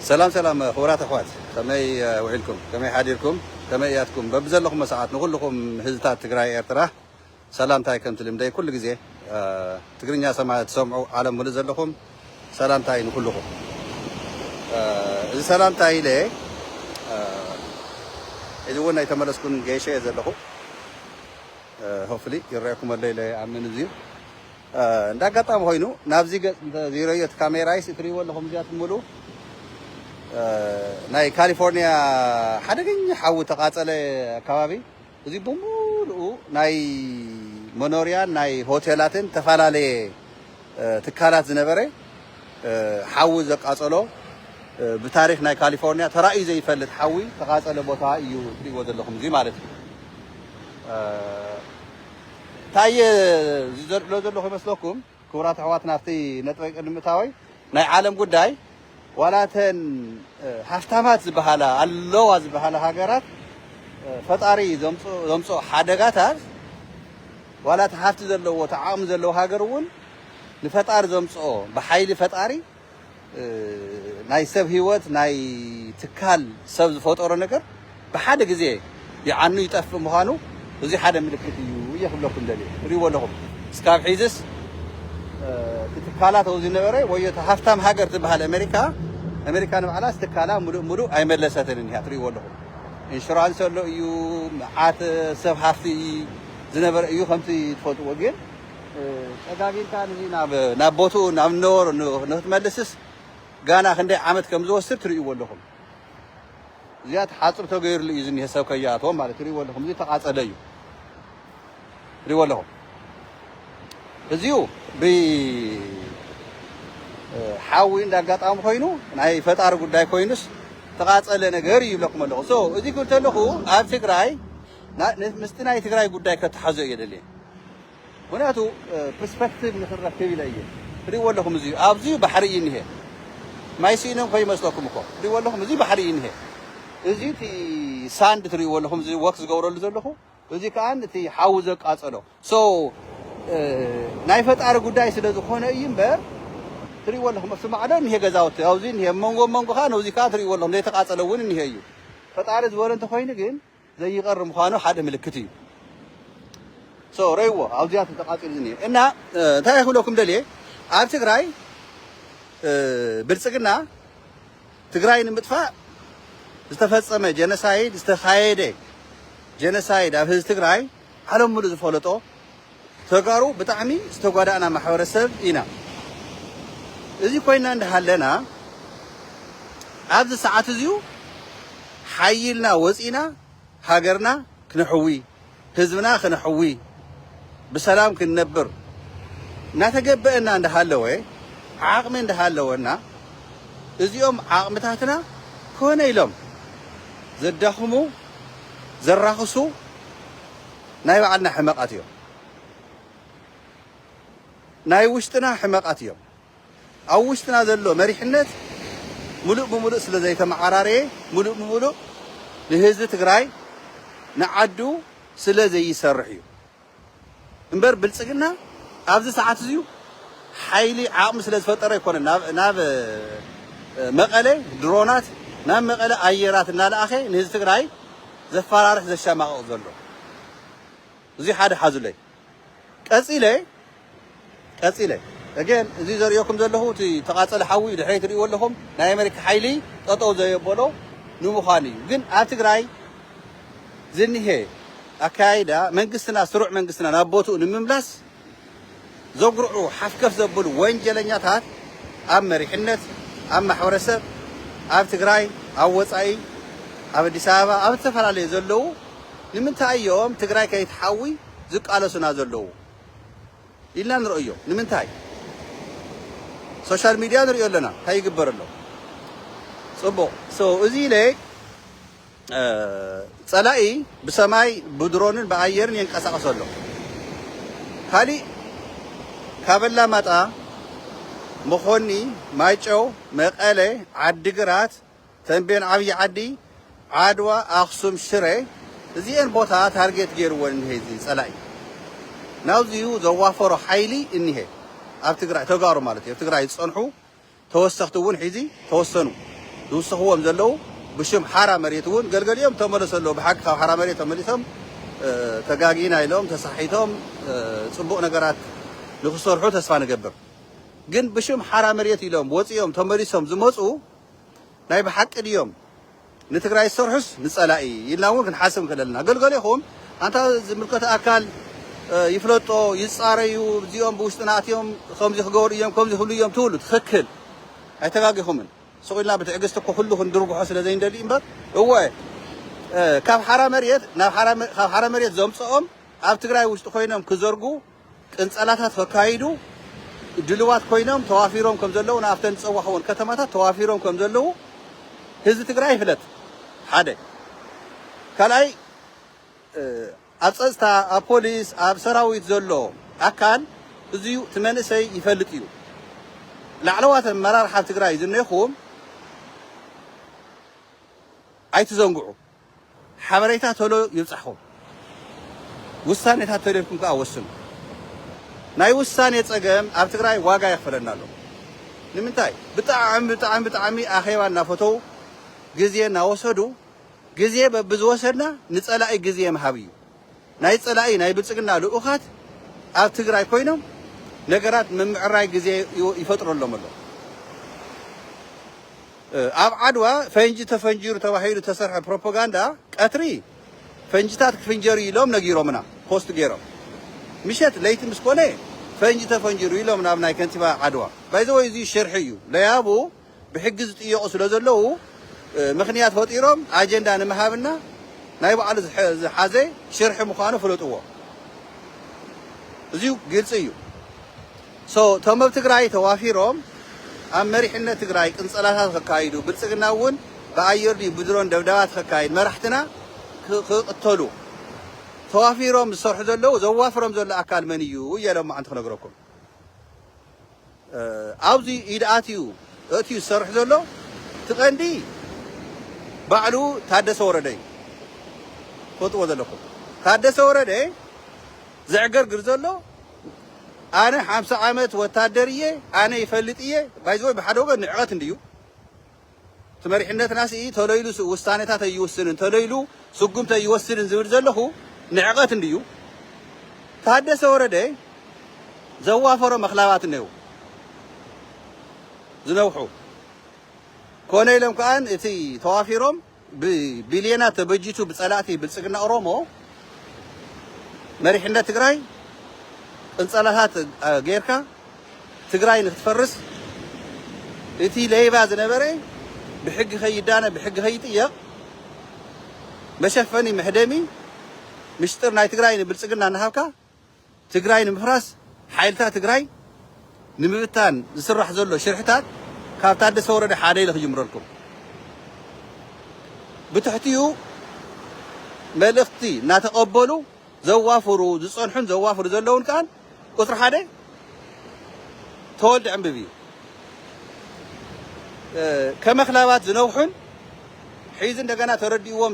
ሰላም ሰላም ክቡራት ኣሕዋት ከመይ ውዒልኩም ከመይ ሓዲርኩም ከመይ እያትኩም በብዘለኹሞ ሰዓት ንኹልኹም ህዝታት ትግራይ ኤርትራ ሰላምታይ ከምቲ ልምደይ ኩሉ ግዜ ትግርኛ ሰማ ትሰምዑ ዓለም ሙሉእ ዘለኹም ሰላምታይ ንኹልኹም እዚ ሰላምታይ ኢለ እዚ እውን ኣይተመለስኩን ገይሸ እየ ዘለኹ ሆፍሊ ይረአኩም ኣሎ ኢለ ይኣምን እዚዩ እንዳ ኣጋጣሚ ኮይኑ ናብዚ ገጽ እንተ ዚረዮ እቲ ካሜራይስ እትርእይዎ ኣለኹም እዚኣ ትምሉ ናይ ካሊፎርኒያ ሓደገኛ ሓዊ ተቃጸለ ኣካባቢ እዚ ብምሉኡ ናይ መኖርያን ናይ ሆቴላትን ተፈላለየ ትካላት ዝነበረ ሓዊ ዘቃጸሎ ብታሪክ ናይ ካሊፎርኒያ ተራእዩ ዘይፈልጥ ሓዊ ተቃጸለ ቦታ እዩ እትርእይዎ ዘለኹም እዚ ማለት እዩ ታይ ዝሎ ዘለኹ ይመስለኩም ክቡራት ኣሕዋት ናብቲ ነጥበይ ቅድሚ ምእታወይ ናይ ዓለም ጉዳይ ዋላ እተን ሃፍታማት ዝበሃላ ኣለዋ ዝበሃላ ሃገራት ፈጣሪ ዘምፅኦ ሓደጋታት ዋላ እቲ ሃፍቲ ዘለዎ እቲ ዓቕሚ ዘለዎ ሃገር እውን ንፈጣሪ ዘምፅኦ ብሓይሊ ፈጣሪ ናይ ሰብ ህይወት ናይ ትካል ሰብ ዝፈጠሮ ነገር ብሓደ ግዜ ይዓኑ ይጠፍእ ምዃኑ እዙይ ሓደ ምልክት እዩ እየ ክብለኩም ደልየ ትሪእዎ ኣለኹም እስካብ ሒዝስ እቲ ትካላት ኣብኡ ዝነበረ ወይ እቲ ሃፍታም ሃገር ዝበሃል ኣሜሪካ ኣሜሪካ ንባዕላስ ትካላ ሙሉእ ሙሉእ ኣይመለሰትን እኒሃ ትሪእዎ ኣለኹም ኢንሹራንስ ኣሎ እዩ መዓት ሰብ ሃፍቲ ዝነበረ እዩ ከምቲ ትፈልጥዎ ግን ጸጋብ ኢልካ ንዚ ናብ ናብ ቦትኡ ናብ ነበሮ ንክትመልስስ ጋና ክንደይ ዓመት ከም ዝወስድ ትርእይዎ ኣለኹም። እዚኣ ትሓጽብ ተገይርሉ እዩ ዝኒሀ ሰብ ከይኣትዎ ማለት ትርእይዎ ኣለኹም። እዚ ተቃጸለ እዩ ትርእይዎ ኣለኹም። እዚኡ ብ ሓዊ እንዳ ኣጋጣሚ ኮይኑ ናይ ፈጣሪ ጉዳይ ኮይኑስ ተቃጸለ ነገር እዩ ይብለኩም ኣለኹ። ሶ እዚ ክብል ተለኹ ኣብ ትግራይ ምስቲ ናይ ትግራይ ጉዳይ ከተሓዞ እየ ደልየ። ምክንያቱ ፕርስፐክቲቭ ንክንረክብ ኢለ እየ። ትሪእዎ ኣለኹም እዚ እዩ ኣብዚ እዩ ባሕሪ እዩ እኒሀ ማይ ስኢኖም ከይመስለኩም እኮ ትሪእዎ ኣለኹም እዚ ባሕሪ እዩ እኒሀ እዚ እቲ ሳንድ ትሪእዎ ኣለኹም እዚ ወክ ዝገብረሉ ዘለኹ እዚ ከዓ እቲ ሓዊ ዘቃፀሎ ሶ ናይ ፈጣሪ ጉዳይ ስለ ዝኾነ እዩ እምበር ትሪእዎ ኣለኹም ኣብቲ ማዕዶ እኒሀ ገዛውቲ ኣብዚ እኒሀ መንጎ መንጎ ከዓ ነዚ ከዓ ትሪእዎ ኣለኹም ዘይተቃፀለ እውን እኒሀ እዩ ፈጣሪ ዝበሎ እንተኮይኑ ግን ዘይቀሪ ምዃኑ ሓደ ምልክት እዩ so ረይዎ ኣብዚኣ ተተቃጺሉ ዝኒኤ እና እንታይ ክብለኩም ደልየ ኣብ ትግራይ ብልጽግና ትግራይ ንምጥፋእ ዝተፈጸመ ጀነሳይድ ዝተኻየደ ጀነሳይድ ኣብ ህዝቢ ትግራይ ዓለም ሙሉእ ዝፈለጦ ተጋሩ ብጣዕሚ ዝተጓዳእና ማሕበረሰብ ኢና። እዚ ኮይና እንዳሃለና ኣብዚ ሰዓት እዚዩ ሓይልና ወፂእና ሃገርና ክነሕዊ ህዝብና ክነሕዊ ብሰላም ክንነብር እናተገበእና እንዳሃለወ ዓቕሚ እንዳሃለወና እዚኦም ዓቕምታትና ኮነ ኢሎም ዘዳኽሙ ዘራኽሱ ናይ ባዕልና ሕመቓት እዮም። ናይ ውሽጥና ሕመቓት እዮም። ኣብ ውሽጥና ዘሎ መሪሕነት ሙሉእ ብሙሉእ ስለ ዘይተመዓራረየ ሙሉእ ብሙሉእ ንህዝቢ ትግራይ ንዓዱ ስለ ዘይሰርሕ እዩ። እምበር ብልጽግና ኣብዚ ሰዓት እዚዩ ሓይሊ ዓቕሚ ስለ ዝፈጠረ ኣይኮነን ናብ ናብ መቐለ ድሮናት ናብ መቐለ ኣየራት እናለኣኸ ንህዝቢ ትግራይ ዘፋራርሕ ዘሻማቕቕ ዘሎ እዙይ ሓደ ሓዙለይ ቀጺለ ቀጺለ Again እዚ ዘርእየኩም ዘለኹ እቲ ዝተቓጸለ ሓዊ እዩ ድሕረይ ትርእይዎ ኣለኹም ናይ ኣሜሪካ ሓይሊ ጠጠው ዘየበሎ ንምዃኑ እዩ ግን ኣብ ትግራይ ዝኒሀ ኣካያይዳ መንግስትና ስሩዕ መንግስትና ናብ ቦትኡ ንምምላስ ዘጉርዑ ሓፍከፍ ዘብሉ ወንጀለኛታት ኣብ መሪሕነት ኣብ ማሕበረሰብ ኣብ ትግራይ ኣብ ወጻኢ ኣብ ኣዲስ ኣበባ ኣብ ዝተፈላለዩ ዘለዉ ንምንታይ እዮም ትግራይ ከይትሓዊ ዝቃለሱና ዘለዉ ኢልና ንርእዮ ንምንታይ ሶሻል ሚድያ ንርእዮ ኣለና እንታይ ይግበር ኣሎ ጽቡቅ so እዚ ኢለ ጸላኢ ብሰማይ ብድሮንን ብኣየርን የንቀሳቅሶ ኣሎ ካሊእ ካብ ኣላማጣ መኾኒ ማይጨው መቀለ ዓዲግራት ተምቤን ዓብዪ ዓዲ ዓድዋ ኣክሱም ሽረ እዚኤን ቦታ ታርጌት ገይርወን እኒሀ እዚ ፀላኢ ናብዚዩ ዘዋፈሮ ሓይሊ እኒሀ ኣብ ትግራይ ተጋሩ ማለት እዩ ኣብ ትግራይ ዝፀንሑ ተወሰኽቲ እውን ሒዚ ተወሰኑ ዝውስኽዎም ዘለው ብሽም ሓራ መሬት እውን ገልገሊኦም ተመለሱ ኣለዉ ብሓቂ ካብ ሓራ መሬት ተመሊሶም ተጋጊና ኢሎም ተሳሒቶም ፅቡቕ ነገራት ንክሰርሑ ተስፋ ንገብር ግን ብሽም ሓራ መሬት ኢሎም ወፂኦም ተመሊሶም ዝመፁ ናይ ብሓቂ ድዮም ንትግራይ ዝሰርሑስ ንፀላኢ ኢልና እውን ክንሓስብ ንኽእል ኣለና። ገልገሌኹም ኣንታ ዝምልከተ ኣካል ይፍለጦ ይፃረዩ እዚኦም ብውሽጥና ኣትዮም ከምዚ ክገብሩ እዮም ከምዚ ክብሉ እዮም ትብሉ ትኽክል ኣይተጋጊኹምን። ስቕ ኢልና ብትዕግስቲ እኮ ኩሉ ክንድርግሖ ስለ ዘይንደሊ እምበር እወ ካብ ሓራ መሬት ናብ ካብ ሓራ መሬት ዘምፀኦም ኣብ ትግራይ ውሽጢ ኮይኖም ክዘርጉ ቅንጸላታት ከካይዱ ድልዋት ኮይኖም ተዋፊሮም ከም ዘለዉን ኣብተን ዝጸዋሕወን ከተማታት ተዋፊሮም ከም ዘለዉ ህዝቢ ትግራይ ይፍለጥ ሓደ ካልኣይ ኣብ ጸጥታ ኣብ ፖሊስ ኣብ ሰራዊት ዘሎ ኣካል እዚዩ እቲ መንእሰይ ይፈልጥ እዩ ላዕለዋት ኣመራርሓ ትግራይ ዝኔኹም ኣይትዘንግዑ ሓበሬታ ቶሎ ይብጻሕኹም፣ ውሳኔታት ቶሎ ኢልኩም ከኣ ወስኑ። ናይ ውሳኔ ጸገም ኣብ ትግራይ ዋጋ የኽፍለና ኣሎ። ንምንታይ? ብጣዕሚ ብጣዕሚ ብጣዕሚ ኣኼባ እናፈተዉ ግዜ እናወሰዱ ግዜ በብዝወሰድና ንጸላኢ ግዜ ምሃብ እዩ። ናይ ፀላኢ ናይ ብልፅግና ልኡኻት ኣብ ትግራይ ኮይኖም ነገራት ምምዕራይ ግዜ ይፈጥረሎም ኣሎ። ኣብ ዓድዋ ፈንጂ ተፈንጂሩ ተባሂሉ ዝተሰርሐ ፕሮፖጋንዳ ቀትሪ ፈንጂታት ክፍንጀር እዩ ኢሎም ነጊሮምና ፖስት ገይሮም ምሸት ለይቲ ምስ ኮነ ፈንጂ ተፈንጂሩ ኢሎም ናብ ናይ ከንቲባ ዓድዋ ባይዘወይ እዚ ሽርሒ እዩ ለያቡ ብሕጊ ዝጥየቁ ስለዘለዉ ምኽንያት ፈጢሮም ኣጀንዳ ንምሃብና ናይ ባዕሉ ዝሓዘ ሽርሒ ምዃኑ ፍለጥዎ እዚ ግልፂ እዩ so እቶም ኣብ ትግራይ ተዋፊሮም ኣብ መሪሕነት ትግራይ ቅንፀላታት ከካይዱ ብልፅግና እውን ብኣየር ድዩ ብድሮን ደብዳባት ከካይድ መራሕትና ክቕተሉ ተዋፊሮም ዝሰርሑ ዘለዉ ዘዋፍሮም ዘሎ ኣካል መን እዩ እየ ለማዓንቲ ክነግረኩም ኣብዚ ኢድ ኣትዩ እእትዩ ዝሰርሕ ዘሎ እቲ ቀንዲ ባዕሉ ታደሰ ወረደ እዩ ትፈልጥዎ ዘለኩም ታደሰ ወረደ ዘዕገርግር ዘሎ ኣነ ሓምሳ ዓመት ወታደር እየ ኣነ ይፈልጥ እየ ባይዘወይ ብሓደ ወገን ንዕቀት እንድዩ እቲ መሪሕነትና ስኢ ተሎ ኢሉ ውሳኔታት ኣይውስንን ተሎ ኢሉ ስጉምቲ ኣይወስድን ዝብል ዘለኹ ንዕቐት እንድዩ ታደሰ ወረደ ዘዋፈሮ መኽላባት እነዉ ዝነውሑ ኮነ ኢሎም ከኣ እቲ ተዋፊሮም ብቢልየናት ተበጂቱ ብፀላእቲ ብልፅግና ኦሮሞ መሪሕነት ትግራይ ቅንፀላታት ጌርካ ትግራይ ንክትፈርስ እቲ ለይባ ዝነበረ ብሕጊ ከይዳነ ብሕጊ ከይጥየቕ መሸፈኒ መሕደሚ ምሽጥር ናይ ትግራይ ንብልፅግና እናሃብካ ትግራይ ንምፍራስ ሓይልታት ትግራይ ንምብታን ዝስራሕ ዘሎ ሽርሕታት ካብ ታደሰ ወረደ ሓደ ኢለ ክጅምረልኩም ብትሕቲኡ መልእኽቲ እናተቐበሉ ዘዋፍሩ ዝፀንሑን ዘዋፍሩ ዘለውን ከዓ ቁፅሪ ሓደ ተወልደ ዕንብብ እዩ ከመክላባት ዝነውሑን ሒዚ እንደገና ተረዲእዎም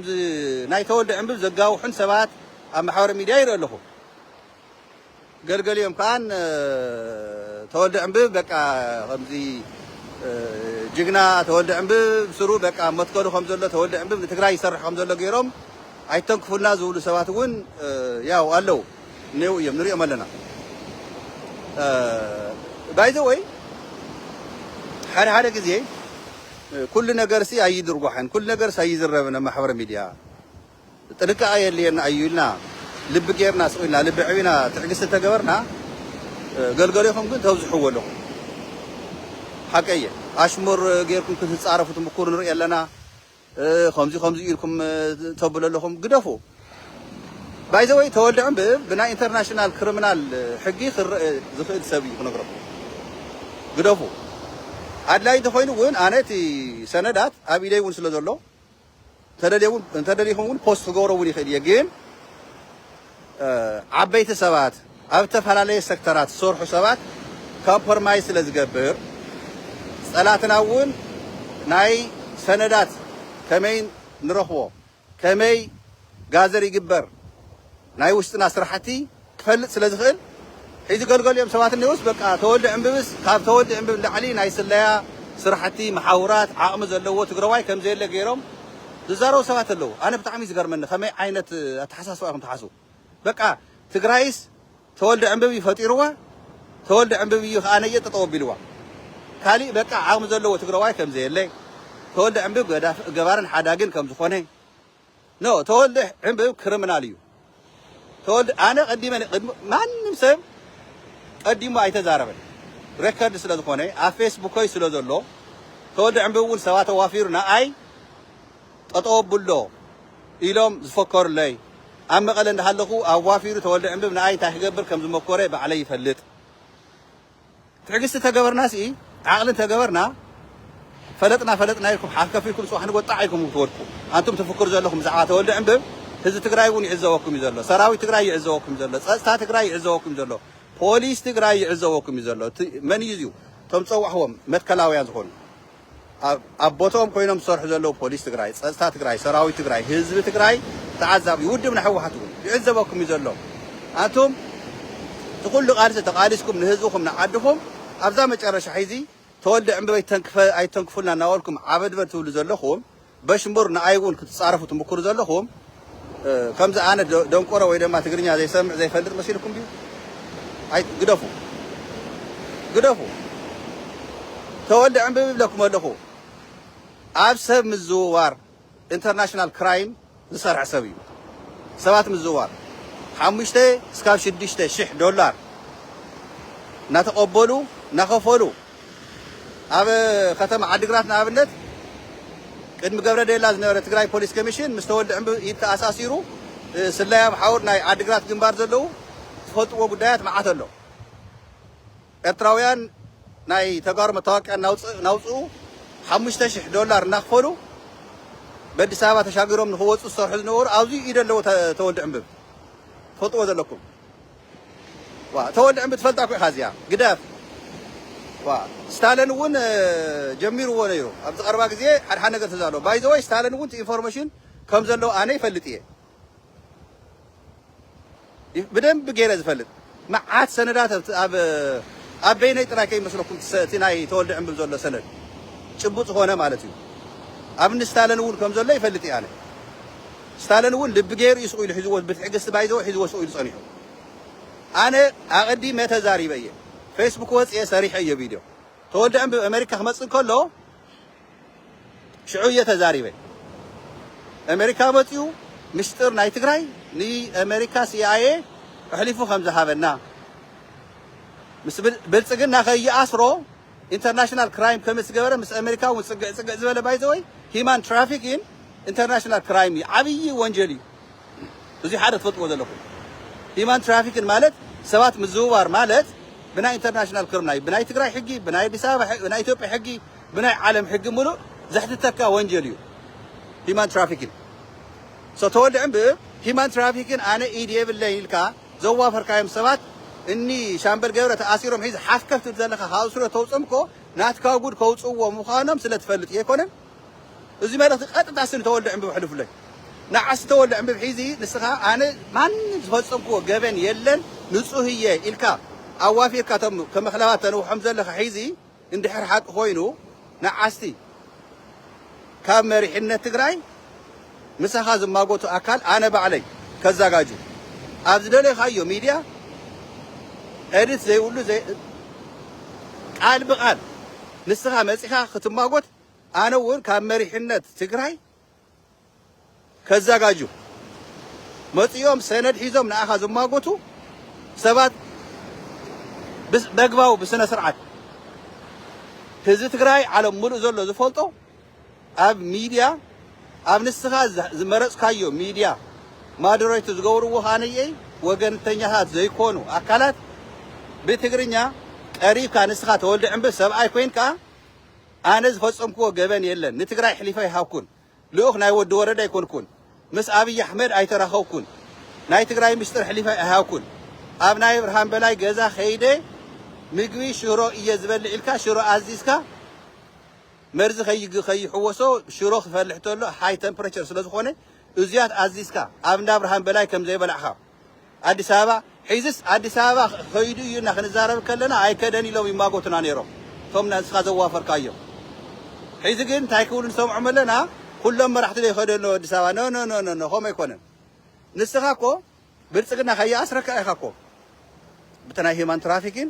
ናይ ተወልደ ዕንብብ ዘጋውሑን ሰባት ኣብ ማሕበረ ሚድያ ይርኢ ኣለኹ ገልገሊኦም ከኣ ተወልደ ዕንብብ በቃ ከምዚ ጅግና ተወልደ ዕንብብ ስሩ በቃ መትከሉ ከም ዘሎ ተወልደ ዕንብብ ንትግራይ ይሰርሕ ከም ዘሎ ገይሮም ኣይተንክፉልና ዝብሉ ሰባት እውን ያው ኣለው እኔው እዮም ንሪኦም ኣለና ባይ ዘ ወይ ሓደ ሓደ ግዜ ኩሉ ነገርሲ ኣይድርጓሕን ኩሉ ነገርሲ ኣይዝረብን ኣብ ማሕበረ ሚድያ ጥንቃቐ የድልየና እዩ ኢልና ልቢ ጌርና ስቕ ኢልና ልቢ ኣዕቢና ትዕግስቲ እንተገበርና ገልገሊኹም ግን ተብዝሕዎ ኣለኹም ሓቀይ እየ ኣሽሙር ጌርኩም ክትጻረፉ ትምኩሩ ንርኢ ኣለና ከምዚ ከምዚ ኢልኩም ተብሉ ኣለኹም ግደፉ ባይዘወይ ተወልደ ዕንብብ ብናይ ኢንተርናሽናል ክሪሚናል ሕጊ ክረእ ዝኽእል ሰብ እዩ ክነግረኩም ግደፉ ኣድላይ እንተኾይኑ እውን ኣነ እቲ ሰነዳት ኣብ ኢደይ እውን ስለ ዘሎ እንተደሊኹም እውን ፖስት ክገብሮ እውን ይኽእል እየ ግን ዓበይቲ ሰባት ኣብ ዝተፈላለየ ሰክተራት ዝሰርሑ ሰባት ኮምፕሮማይዝ ስለ ዝገብር ጸላትና እውን ናይ ሰነዳት ከመይ ንረኽቦ ከመይ ጋዘር ይግበር ናይ ውሽጥና ስራሕቲ ክፈልጥ ስለ ዝኽእል ሒዚ ገልገሊኦም ሰባት እኔውስ በቃ ተወልደ ዕንብብስ ካብ ተወልደ ዕንብብ ንላዕሊ ናይ ስለያ ስራሕቲ መሓውራት ዓቕሚ ዘለዎ ትግረዋይ ከም ዘየለ ገይሮም ዝዛረቡ ሰባት ኣለዉ ኣነ ብጣዕሚ እዩ ዝገርመኒ ከመይ ዓይነት ኣተሓሳስባ ኢኹም ትሓስቡ በቃ ትግራይስ ተወልደ ዕንብብ እዩ ፈጢርዋ ተወልደ ዕንብብ እዩ ከኣ ነየ ጠጠው ኣቢልዋ ካሊእ በቃ ዓቕሚ ዘለዎ ትግረዋይ ከም ዘየለ ተወልደ ዕንብብ ገባርን ሓዳግን ከም ዝኾነ No ተወልደ ዕንብብ ክርምናል እዩ ተወልደ ኣነ ቀዲመ ቅድሚ ማንም ሰብ ቀዲሙ ኣይተዛረበን ረከርድ ስለ ዝኾነ ኣብ ፌስቡከይ ስለ ዘሎ ተወልደ ዕንብብ እውን ሰባት ኣዋፊሩ ንኣይ ጠጠው ኣብሎ ኢሎም ዝፈከሩለይ ኣብ መቐለ እንዳሃለኹ ኣዋፊሩ ተወልደ ዕንብብ ንኣይ እንታይ ክገብር ከም ዝመኮረ ባዕለይ ይፈልጥ ትዕግስቲ ተገበርናሲ ዓቕሊ እንተገበርና ፈለጥና ፈለጥና ኢልኩም ሓልከፍ ኢልኩም ጽባሕ ንግሆ ጣዕ ኢልኩም ክትወድቁ ኣንቱም ትፍክሩ ዘለኹም ብዛዕባ ተወልደ ዕንብብ ህዝቢ ትግራይ እውን ይዕዘበኩም እዩ ዘሎ ሰራዊት ትግራይ ይዕዘበኩም እዩ ዘሎ ጸጥታ ትግራይ ይዕዘበኩም እዩ ዘሎ ፖሊስ ትግራይ ይዕዘበኩም እዩ ዘሎ መን እዩ እዚኡ እቶም ዝጸዋዕኹዎም መትከላውያን ዝኾኑ ኣብ ቦትኦም ኮይኖም ዝሰርሑ ዘለዉ ፖሊስ ትግራይ፣ ፀፅታ ትግራይ፣ ሰራዊት ትግራይ፣ ህዝቢ ትግራይ፣ ተዓዛቢ ውድብ ናይ ህወሓት እውን ይዕዘበኩም እዩ ዘሎ። ኣንቱም እቲ ኩሉ ቃልሲ ተቓሊስኩም ንህዝብኹም ንዓድኹም ኣብዛ መጨረሻ ሒዚ ተወልደ ዕምበበይ ኣይትተንክፉልና እናበልኩም ዓበድበድ ትብሉ ዘለኹም፣ በሽ እምበር ንኣይ እውን ክትጻረፉ ትምኩሩ ዘለኹም ከምዚ ኣነ ደንቆሮ ወይ ደማ ትግርኛ ዘይሰምዕ ዘይፈልጥ መሲልኩም ድዩ ኣይ ግደፉ ግደፉ ተወልደ ዕንብብ ይብለኩም ኣለኹ ኣብ ሰብ ምዝውዋር ኢንተርናሽናል ክራይም ዝሰርሕ ሰብ እዩ። ሰባት ምዝዋር ሓሙሽተ እስካብ ሽዱሽተ ሽሕ ዶላር እናተቐበሉ እናኸፈሉ ኣብ ከተማ ዓዲግራት ንኣብነት ቅድሚ ገብረዴላ ዝነበረ ትግራይ ፖሊስ ኮሚሽን ምስ ተወልደ ዕንብ ኢድ ተኣሳሲሩ ስለያ ብሓውር ናይ ዓዲግራት ግንባር ዘለዉ ዝፈልጥዎ ጉዳያት መዓት ኣሎ። ኤርትራውያን ናይ ተጋሩ መታወቅያ እናውጽኡ ሓሙሽተ ሽሕ ዶላር እናኽፈሉ በዲስ ኣበባ ተሻጊሮም ንኽወጹ ዝሰርሑ ዝነበሩ ኣብዙይ ኢድ ኣለዎ ተወልድ ዕንብብ ትፈልጥዎ ዘለኩም ዋ ተወልድ ዕንብብ ትፈልጣ እኮ ኢኻ እዚኣ ግደፍ ዋ ስታለን እውን ጀሚርዎ ነይሩ ኣብዚ ቀረባ ግዜ ሓድሓድ ነገር ተዛሎ ባይዘወይ ስታለን እውን ኢንፎርሜሽን ከም ዘለዎ ኣነ ይፈልጥ እየ ብደንቢ ገይረ ዝፈልጥ መዓት ሰነዳት ኣብ ኣብ በይነይ ጥራይ ከይመስለኩም እቲ ናይ ተወልደ ዕንብብ ዘሎ ሰነድ ጭቡጥ ዝኾነ ማለት እዩ ኣብ እኒ ስታለን እውን ከም ዘሎ ይፈልጥ እየ ኣነ ስታለን እውን ልቢ ገይሩ እዩ ስቑኢሉ ሒዝዎ ብትዕግስቲ ባይዘወ ሒዝዎ ስቑኢሉ ጸኒሑ ኣነ ኣቐዲመ ተዛሪበ እየ ፌስቡክ ወፅየ ሰሪሐ እየ ቪድዮ ተወልደ ዕንብብ ኣሜሪካ ክመፅእ ከሎ ሽዑ እየ ተዛሪበ ኤመሪካ መጺኡ ምስጢር ናይ ትግራይ ንኤመሪካ ሲኣይኤ ኣሕሊፉ ከም ዝሃበና ምስ ብልጽግና ከይኣስሮ ኢንተርናሽናል ክራይም ከም ዝገበረ ምስ ኣሜሪካ እውን ፅግዕ ፅግዕ ዝበለ ባይዘወይ ሂማን ትራፊኪን ኢንተርናሽናል ክራይም እዩ ዓብዪ ወንጀል እዩ እዙይ ሓደ ትፈልጥዎ ዘለኹም ሂማን ትራፊኪን ማለት ሰባት ምዝውዋር ማለት ብናይ ኢንተርናሽናል ክርምና እዩ ብናይ ትግራይ ሕጊ ብናይ ኣዲስ ኣበባ ናይ ኢትዮጵያ ሕጊ ብናይ ዓለም ሕጊ ምሉእ ዘሕትተካ ወንጀል እዩ ሂማን ትራፊኪን ሶ ተወልዕም ብ ሂማን ትራፊኪን ኣነ ኢድ የብለይ ኢልካ ዘዋፈርካዮም ሰባት እኒ ሻምበል ገብረ ተኣሲሮም ሒዝ ሓፍ ከፍ ትብል ዘለካ ካብ ስሮ ተውፅም እኮ ናትካ ጉድ ከውፅዎ ምዃኖም ስለ ትፈልጥ ዘይኮነን እዚ መልእኽቲ ቀጥታ ስኒ ተወልደ ዕንብብ ሕልፍለይ ንዓስ ተወልደ ዕንብብ ሒዚ ንስኻ ኣነ ማንም ዝፈፀምክዎ ገበን የለን ንፁህ እየ ኢልካ ኣዋፊርካ ቶም ከመክላባት ተንውሖም ዘለኻ ሒዚ እንድሕር ሓቂ ኮይኑ ንዓስቲ ካብ መሪሕነት ትግራይ ምሳኻ ዝማጎቱ ኣካል ኣነ ባዕለይ ከዛጋጁ ኣብ ዝደለኻዮ ሚድያ ኤድት ዘይብሉ ቃል ብቃል ንስኻ መፂኻ ክትማጎት ኣነ ውን ካብ መሪሕነት ትግራይ ከዛጋጁ መጺኦም ሰነድ ሒዞም ንኣኻ ዝማጎቱ ሰባት በግባቡ ብስነ ስርዓት ህዝቢ ትግራይ ዓለም ሙሉእ ዘሎ ዝፈልጦ ኣብ ሚድያ ኣብ ንስኻ ዝመረጽካዮ ሚድያ ማደሬት ዝገብርዎ ካነየይ ወገንተኛታት ዘይኮኑ ኣካላት ብትግርኛ ቀሪብካ ንስኻ ተወልደ ዕምብል ሰብኣይ ኮይንካ ኣነ ዝፈጸምክዎ ገበን የለን ንትግራይ ኣሕሊፈ ኣይሃብኩን ልኡኽ ናይ ወዲ ወረደ ኣይኮንኩን ምስ ኣብይ ኣሕመድ ኣይተራኸብኩን ናይ ትግራይ ምስጢር ኣሕሊፈ ኣይሃብኩን ኣብ ናይ ኣብርሃም በላይ ገዛ ከይደ ምግቢ ሽሮ እየ ዝበልዕ ኢልካ ሽሮ ኣዚዝካ መርዚ ከይግ ከይሕወሶ ሽሮ ክፈልሕ ተሎ ሃይ ተምፕሬቸር ስለ ዝኾነ እዙያት ኣዚዝካ ኣብ እንዳ ኣብርሃም በላይ ከም ዘይበላዕኻ ኣዲስ ኣበባ ሒዝስ ኣዲስ ኣበባ ከይዱ እዩ እና ክንዛረብ ከለና ኣይከደን ኢሎም ይማጎቱና ነይሮም እቶም ንስኻ ዘዋፈርካዮም ሒዚ ግን እንታይ ክብሉ ንሰምዖም ኣለና ኩሎም መራሕቲ ዶ ይኸዱ ኣለዉ ኣዲስ ኣበባ ኖኖኖኖ ከምኡ ኣይኮነን ንስኻ እኮ ብልፅግና ከይኣስረካ ኢኻ እኮ ብቲ ናይ ሂማን ትራፊኪን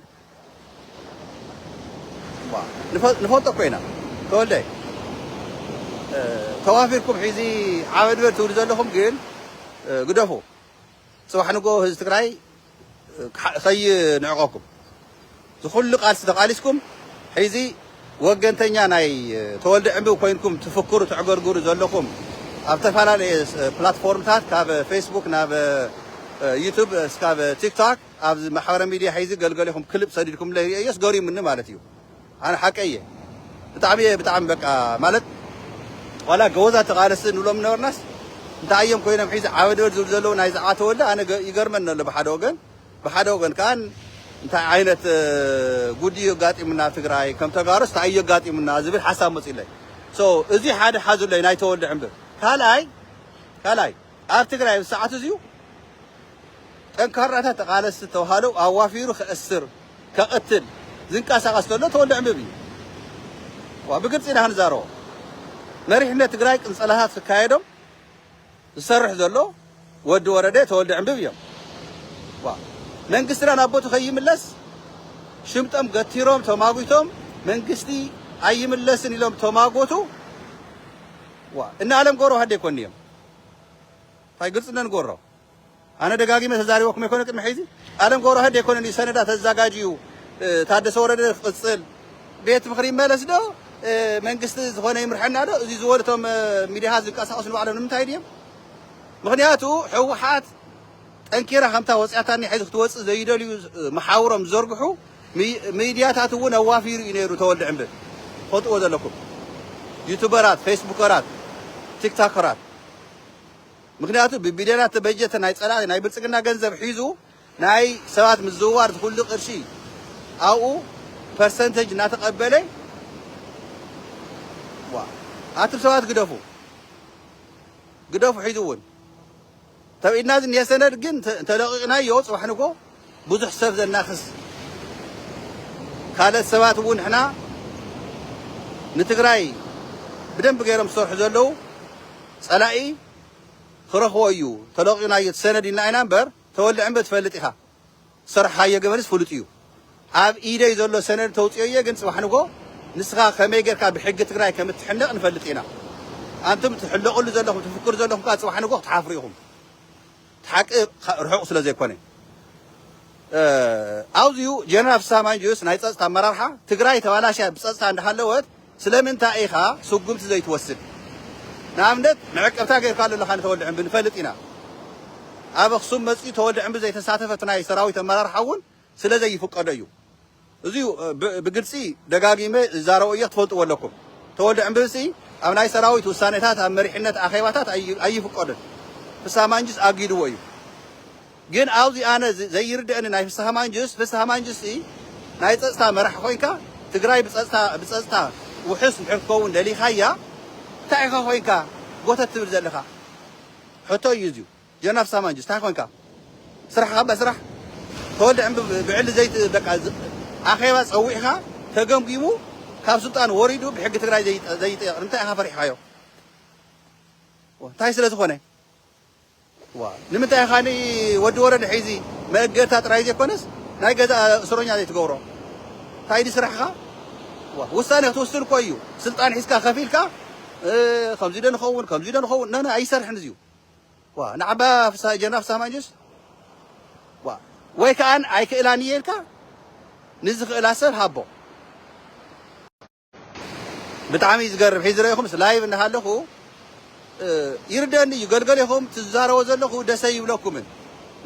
ንፈልጦ እኮ ኢና ተወልደ ተዋፊርኩም ሒዚ ዓበድበድ ትብሉ ዘለኹም ግን ግደፉ ፅባሕ ንጎ ህዝቢ ትግራይ ከይንዕቀኩም ዝኩሉ ቃልሲ ተቃሊስኩም ሒዚ ወገንተኛ ናይ ተወልደ ዕንብብ ኮይንኩም ትፍክሩ ተዕገርግሩ ዘለኹም ኣብ ዝተፈላለየ ፕላትፎርምታት ካብ ፌስቡክ ናብ ዩቱብ እስካብ ቲክቶክ ኣብዚ ማሕበረ ሚድያ ሒዚ ገልገሊኹም ክልብ ሰዲድኩምለይ ሪኤዮስ ገሪሙኒ ማለት እዩ ኣነ ሓቀይ እየ ብጣዕሚ እየ ብጣዕሚ በቃ ማለት ዋላ ገወዛት ተቃለስቲ ንብሎም ነበርናስ እንታይ እዮም ኮይኖም ሒዚ ዓበድበድ ዝብሉ ዘለዉ ናይ ዛዕባ ተወልደ ኣነ ይገርመኒ ኣሎ ብሓደ ወገን ብሓደ ወገን ከኣን እንታይ ዓይነት ጉድ እዩ ኣጋጢሙና ኣብ ትግራይ ከም ተጋሩስ እንታይ እዩ ኣጋጢሙና ዝብል ሓሳብ መፅኡለይ ሶ እዚ ሓደ ሓዙለይ ናይ ተወልደ ዕምብብ ካልኣይ ካልኣይ ኣብ ትግራይ ኣብዚ ሰዓት እዚዩ ጠንካራታት ተቓለስቲ ተውሃለው ኣዋፊሩ ከእስር ከቕትል ዝንቀሳቐስ ተሎ ተወልደ ዕንብብ እዩ። ዋ ብግልፂ ኢና ክንዛረቦ መሪሕነት ትግራይ ቅንፀላታት ክካየዶም ዝሰርሕ ዘሎ ወዲ ወረደ ተወልደ ዕንብብ እዮም። ዋ መንግስትና ናብ ቦቱ ከይምለስ ሽምጦም ገቲሮም ተማጒቶም መንግስቲ ኣይምለስን ኢሎም ተማጎቱ ዋ እነ ኣለም ገብረዋህድ ዘይኮን እዮም ታይ ግልፅነት ንገብሮ ኣነ ደጋጊመ ተዛሪበኩም ኣይኮነን ቅድሚ ሕዚ ኣለም ገብረዋህድ ኣይኮነን እዩ ሰነዳት ኣዛጋጅዩ ታደሰ ወረደ ክቅፅል ቤት ምክሪ ይመለስ ዶ መንግስቲ ዝኾነ ይምርሐና ዶ እዚ ዝበሉ እቶም ሚድያታት ዝንቀሳቀሱ ንባዕሎም ንምንታይ ድዮም ምክንያቱ ሕወሓት ጠንኪራ ከምታ ወጺኣታኒ ሕዚ ክትወጽእ ዘይደልዩ መሓውሮም ዝዘርግሑ ምይድያታት እውን ኣዋፊሩ እዩ ነይሩ ተወልደ ዕንብብ ትፈልጥዎ ዘለኩም ዩቱበራት ፌስቡከራት ቲክታከራት ምክንያቱ ብቢልዮናት ተበጀተ ናይ ጸላእቲ ናይ ብልጽግና ገንዘብ ሒዙ ናይ ሰባት ምዝውዋር ዝኩሉ ቅርሺ ኣብኡ ፐርሰንተጅ እናተቀበለ ዋ ኣቱም ሰባት ግደፉ ግደፉ ሕዚ እውን ተውዒድና ዝኒሀ ሰነድ ግን ተለቂቅናዮ ፅባሕ ንግሆ ብዙሕ ሰብ ዘናክስ ካልኦት ሰባት እውን ንሕና ንትግራይ ብደንቢ ገይሮም ዝሰርሑ ዘለው ፀላኢ ክረክቦ እዩ ተለቂቅናዮ እቲ ሰነድ ኢልና ኢና እምበር ተወልዐ እምበ ትፈልጥ ኢካ ዝሰርሕኻዮ ገበንስ ፍሉጥ እዩ። ኣብ ኢደይ ዘሎ ሰነድ ተውፅኦ እየ ግን ፅባሕ ንግሆ ንስኻ ከመይ ገይርካ ብሕጊ ትግራይ ከም እትሕነቕ ንፈልጥ ኢና። ኣንቱም ትሕለቑሉ ዘለኹም ትፍክሩ ዘለኹም ከዓ ፅባሕ ንግሆ ክትሓፍሩ ኢኹም። እቲ ሓቂ ርሑቕ ስለ ዘይኮነ። ኣውዚኡ ጀነራል ፍስሃ ማንጁስ ናይ ፀፅታ ኣመራርሓ ትግራይ ተባላሽያ ብፀፅታ እንዳሃለወት፣ ስለምንታይ ኢኻ ስጉምቲ ዘይትወስድ? ንኣብነት መዕቀብታ ጌርካሉ ኣለኻ ንተወልደ ዕንቢ ንፈልጥ ኢና። ኣብ ኣኽሱም መጺኡ ተወልደ ዕንቢ ዘይተሳተፈ እቲ ናይ ሰራዊት ኣመራርሓ እውን ስለ ዘይፍቀዶ እዩ። እዚ ብግልጺ ደጋጊመ ዝዛረቦ እየ ክትፈልጥዎ ኣለኩም። ተወልደ ዕንብሲ ኣብ ናይ ሰራዊት ውሳኔታት ኣብ መሪሕነት ኣኼባታት ኣይፍቀዶን። ፍስሃ ማንጁስ ኣጊድዎ እዩ። ግን ኣዚ ኣነ ዘይርደእኒ ናይ ፍስሃ ማንጁስ ፍስሃ ማንጁስ ሲ ናይ ፀፅታ መራሒ ኮይንካ ትግራይ ብፀፅታ ብፀፅታ ውሑስ እንድሕር ክትከውን ደሊካያ ታይ ኢካ ኮይንካ ጎተት ትብል ዘለካ ሕቶ እዩ እዝዩ ጀና ፍስሃ ማንጁስ ታይ ኮይንካ ስራሕካ እባ ስራሕ ተወልደ ዕንብብ ብዕሊ ዘይት በቃ ኣኼባ ፀዊዕካ ተገምጊሙ ካብ ስልጣን ወሪዱ ብሕጊ ትግራይ ዘይጠየቅ ንምንታይ ኢካ ፈሪሕካዮ ታይ ስለዝኮነ ንምንታይ ኢኻ ን ወዲ ወረደ ሒዚ መእገታ ጥራይ ዘይኮነስ ናይ ገዛእ እስሮኛ ዘይትገብሮ ታይ ድዩ ስራሕኻ ውሳነ ክትውስን እኮ እዩ ስልጣን ሒዝካ ከፍ ኢልካ ከምዚ ዶ ንኸውን ከምዚ ዶ ንኸውን ን ኣይሰርሕን እዚዩ ዋ ንዓባ ፍስሃ ጀነራል ፍስሃ ማንጁስ ዋ ወይ ከኣ ኣይክእላን እየ ኢልካ ንዝኽእላ ሰብ ሃቦ። ብጣዕሚ እዩ ዝገርም ሒዚ ረኢኹምስ ላይቭ እንዳሃለኹ ይርደኒ እዩ ገልገል ኢኹም ትዛረቦ ዘለኹ ደሰ ይብለኩምን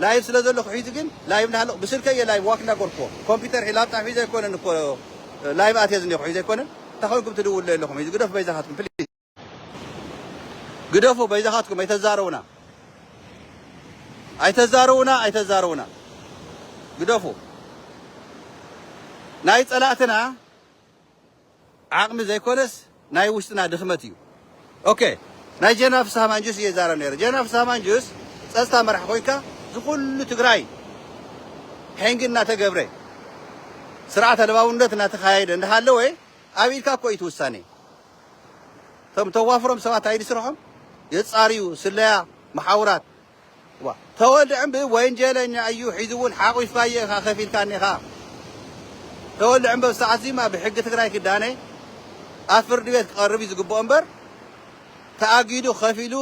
ላይቭ ስለ ዘለኹ ሒዚ ግን ላይቭ እንዳሃለኹ ብስልከ እየ ላይቭ ዋክ እንዳገርኩዎ ኮምፒተር ሒ ላፕጣ ሒዘ ኣይኮነን እኮ ላይቭ ኣትየ ዝኒኹ ሒዘ ኣይኮነን እንታይ ኮይንኩም ትድውሉ ኣለኹም ሒዚ ግደፉ በይዛኻትኩም ፕሊዝ ግደፉ በይዛኻትኩም ኣይተዛረቡና ኣይተዛረቡና ኣይተዛረቡና ግደፉ ናይ ጸላእትና ዓቕሚ ዘይኮነስ ናይ ውሽጥና ድኽመት እዩ ኦኬ ናይ ጀነራል ፍስሃ ማንጁስ እየ ዛረብ ነይረ ጀነራል ፍስሃ ማንጁስ ጸጥታ መራሕ ኮይንካ ዝኩሉ ትግራይ ሕንጊ እናተገብረ ስርዓት ኣልባውነት እናተካየደ እንዳሃለወ ኣብ ኢድካ እኮ እዩ ትውሳኔ እቶም ተዋፍሮም ሰባት ኣይዲ ስርሖም የጻርዩ ስለያ መሓውራት ተወልደ ዕምቢ ወንጀለኛ እዩ ሒዙ እውን ሓቂፋየ ኢኻ ከፊልካኒ ኢኻ ተወልደ ዕምቢ ኣብ ሰዓት ዚማ ብሕጊ ትግራይ ክዳነ ኣብ ፍርዲ ቤት ክቐርብ እዩ ዝግብኦ እምበር ተኣጊዱ ከፊሉ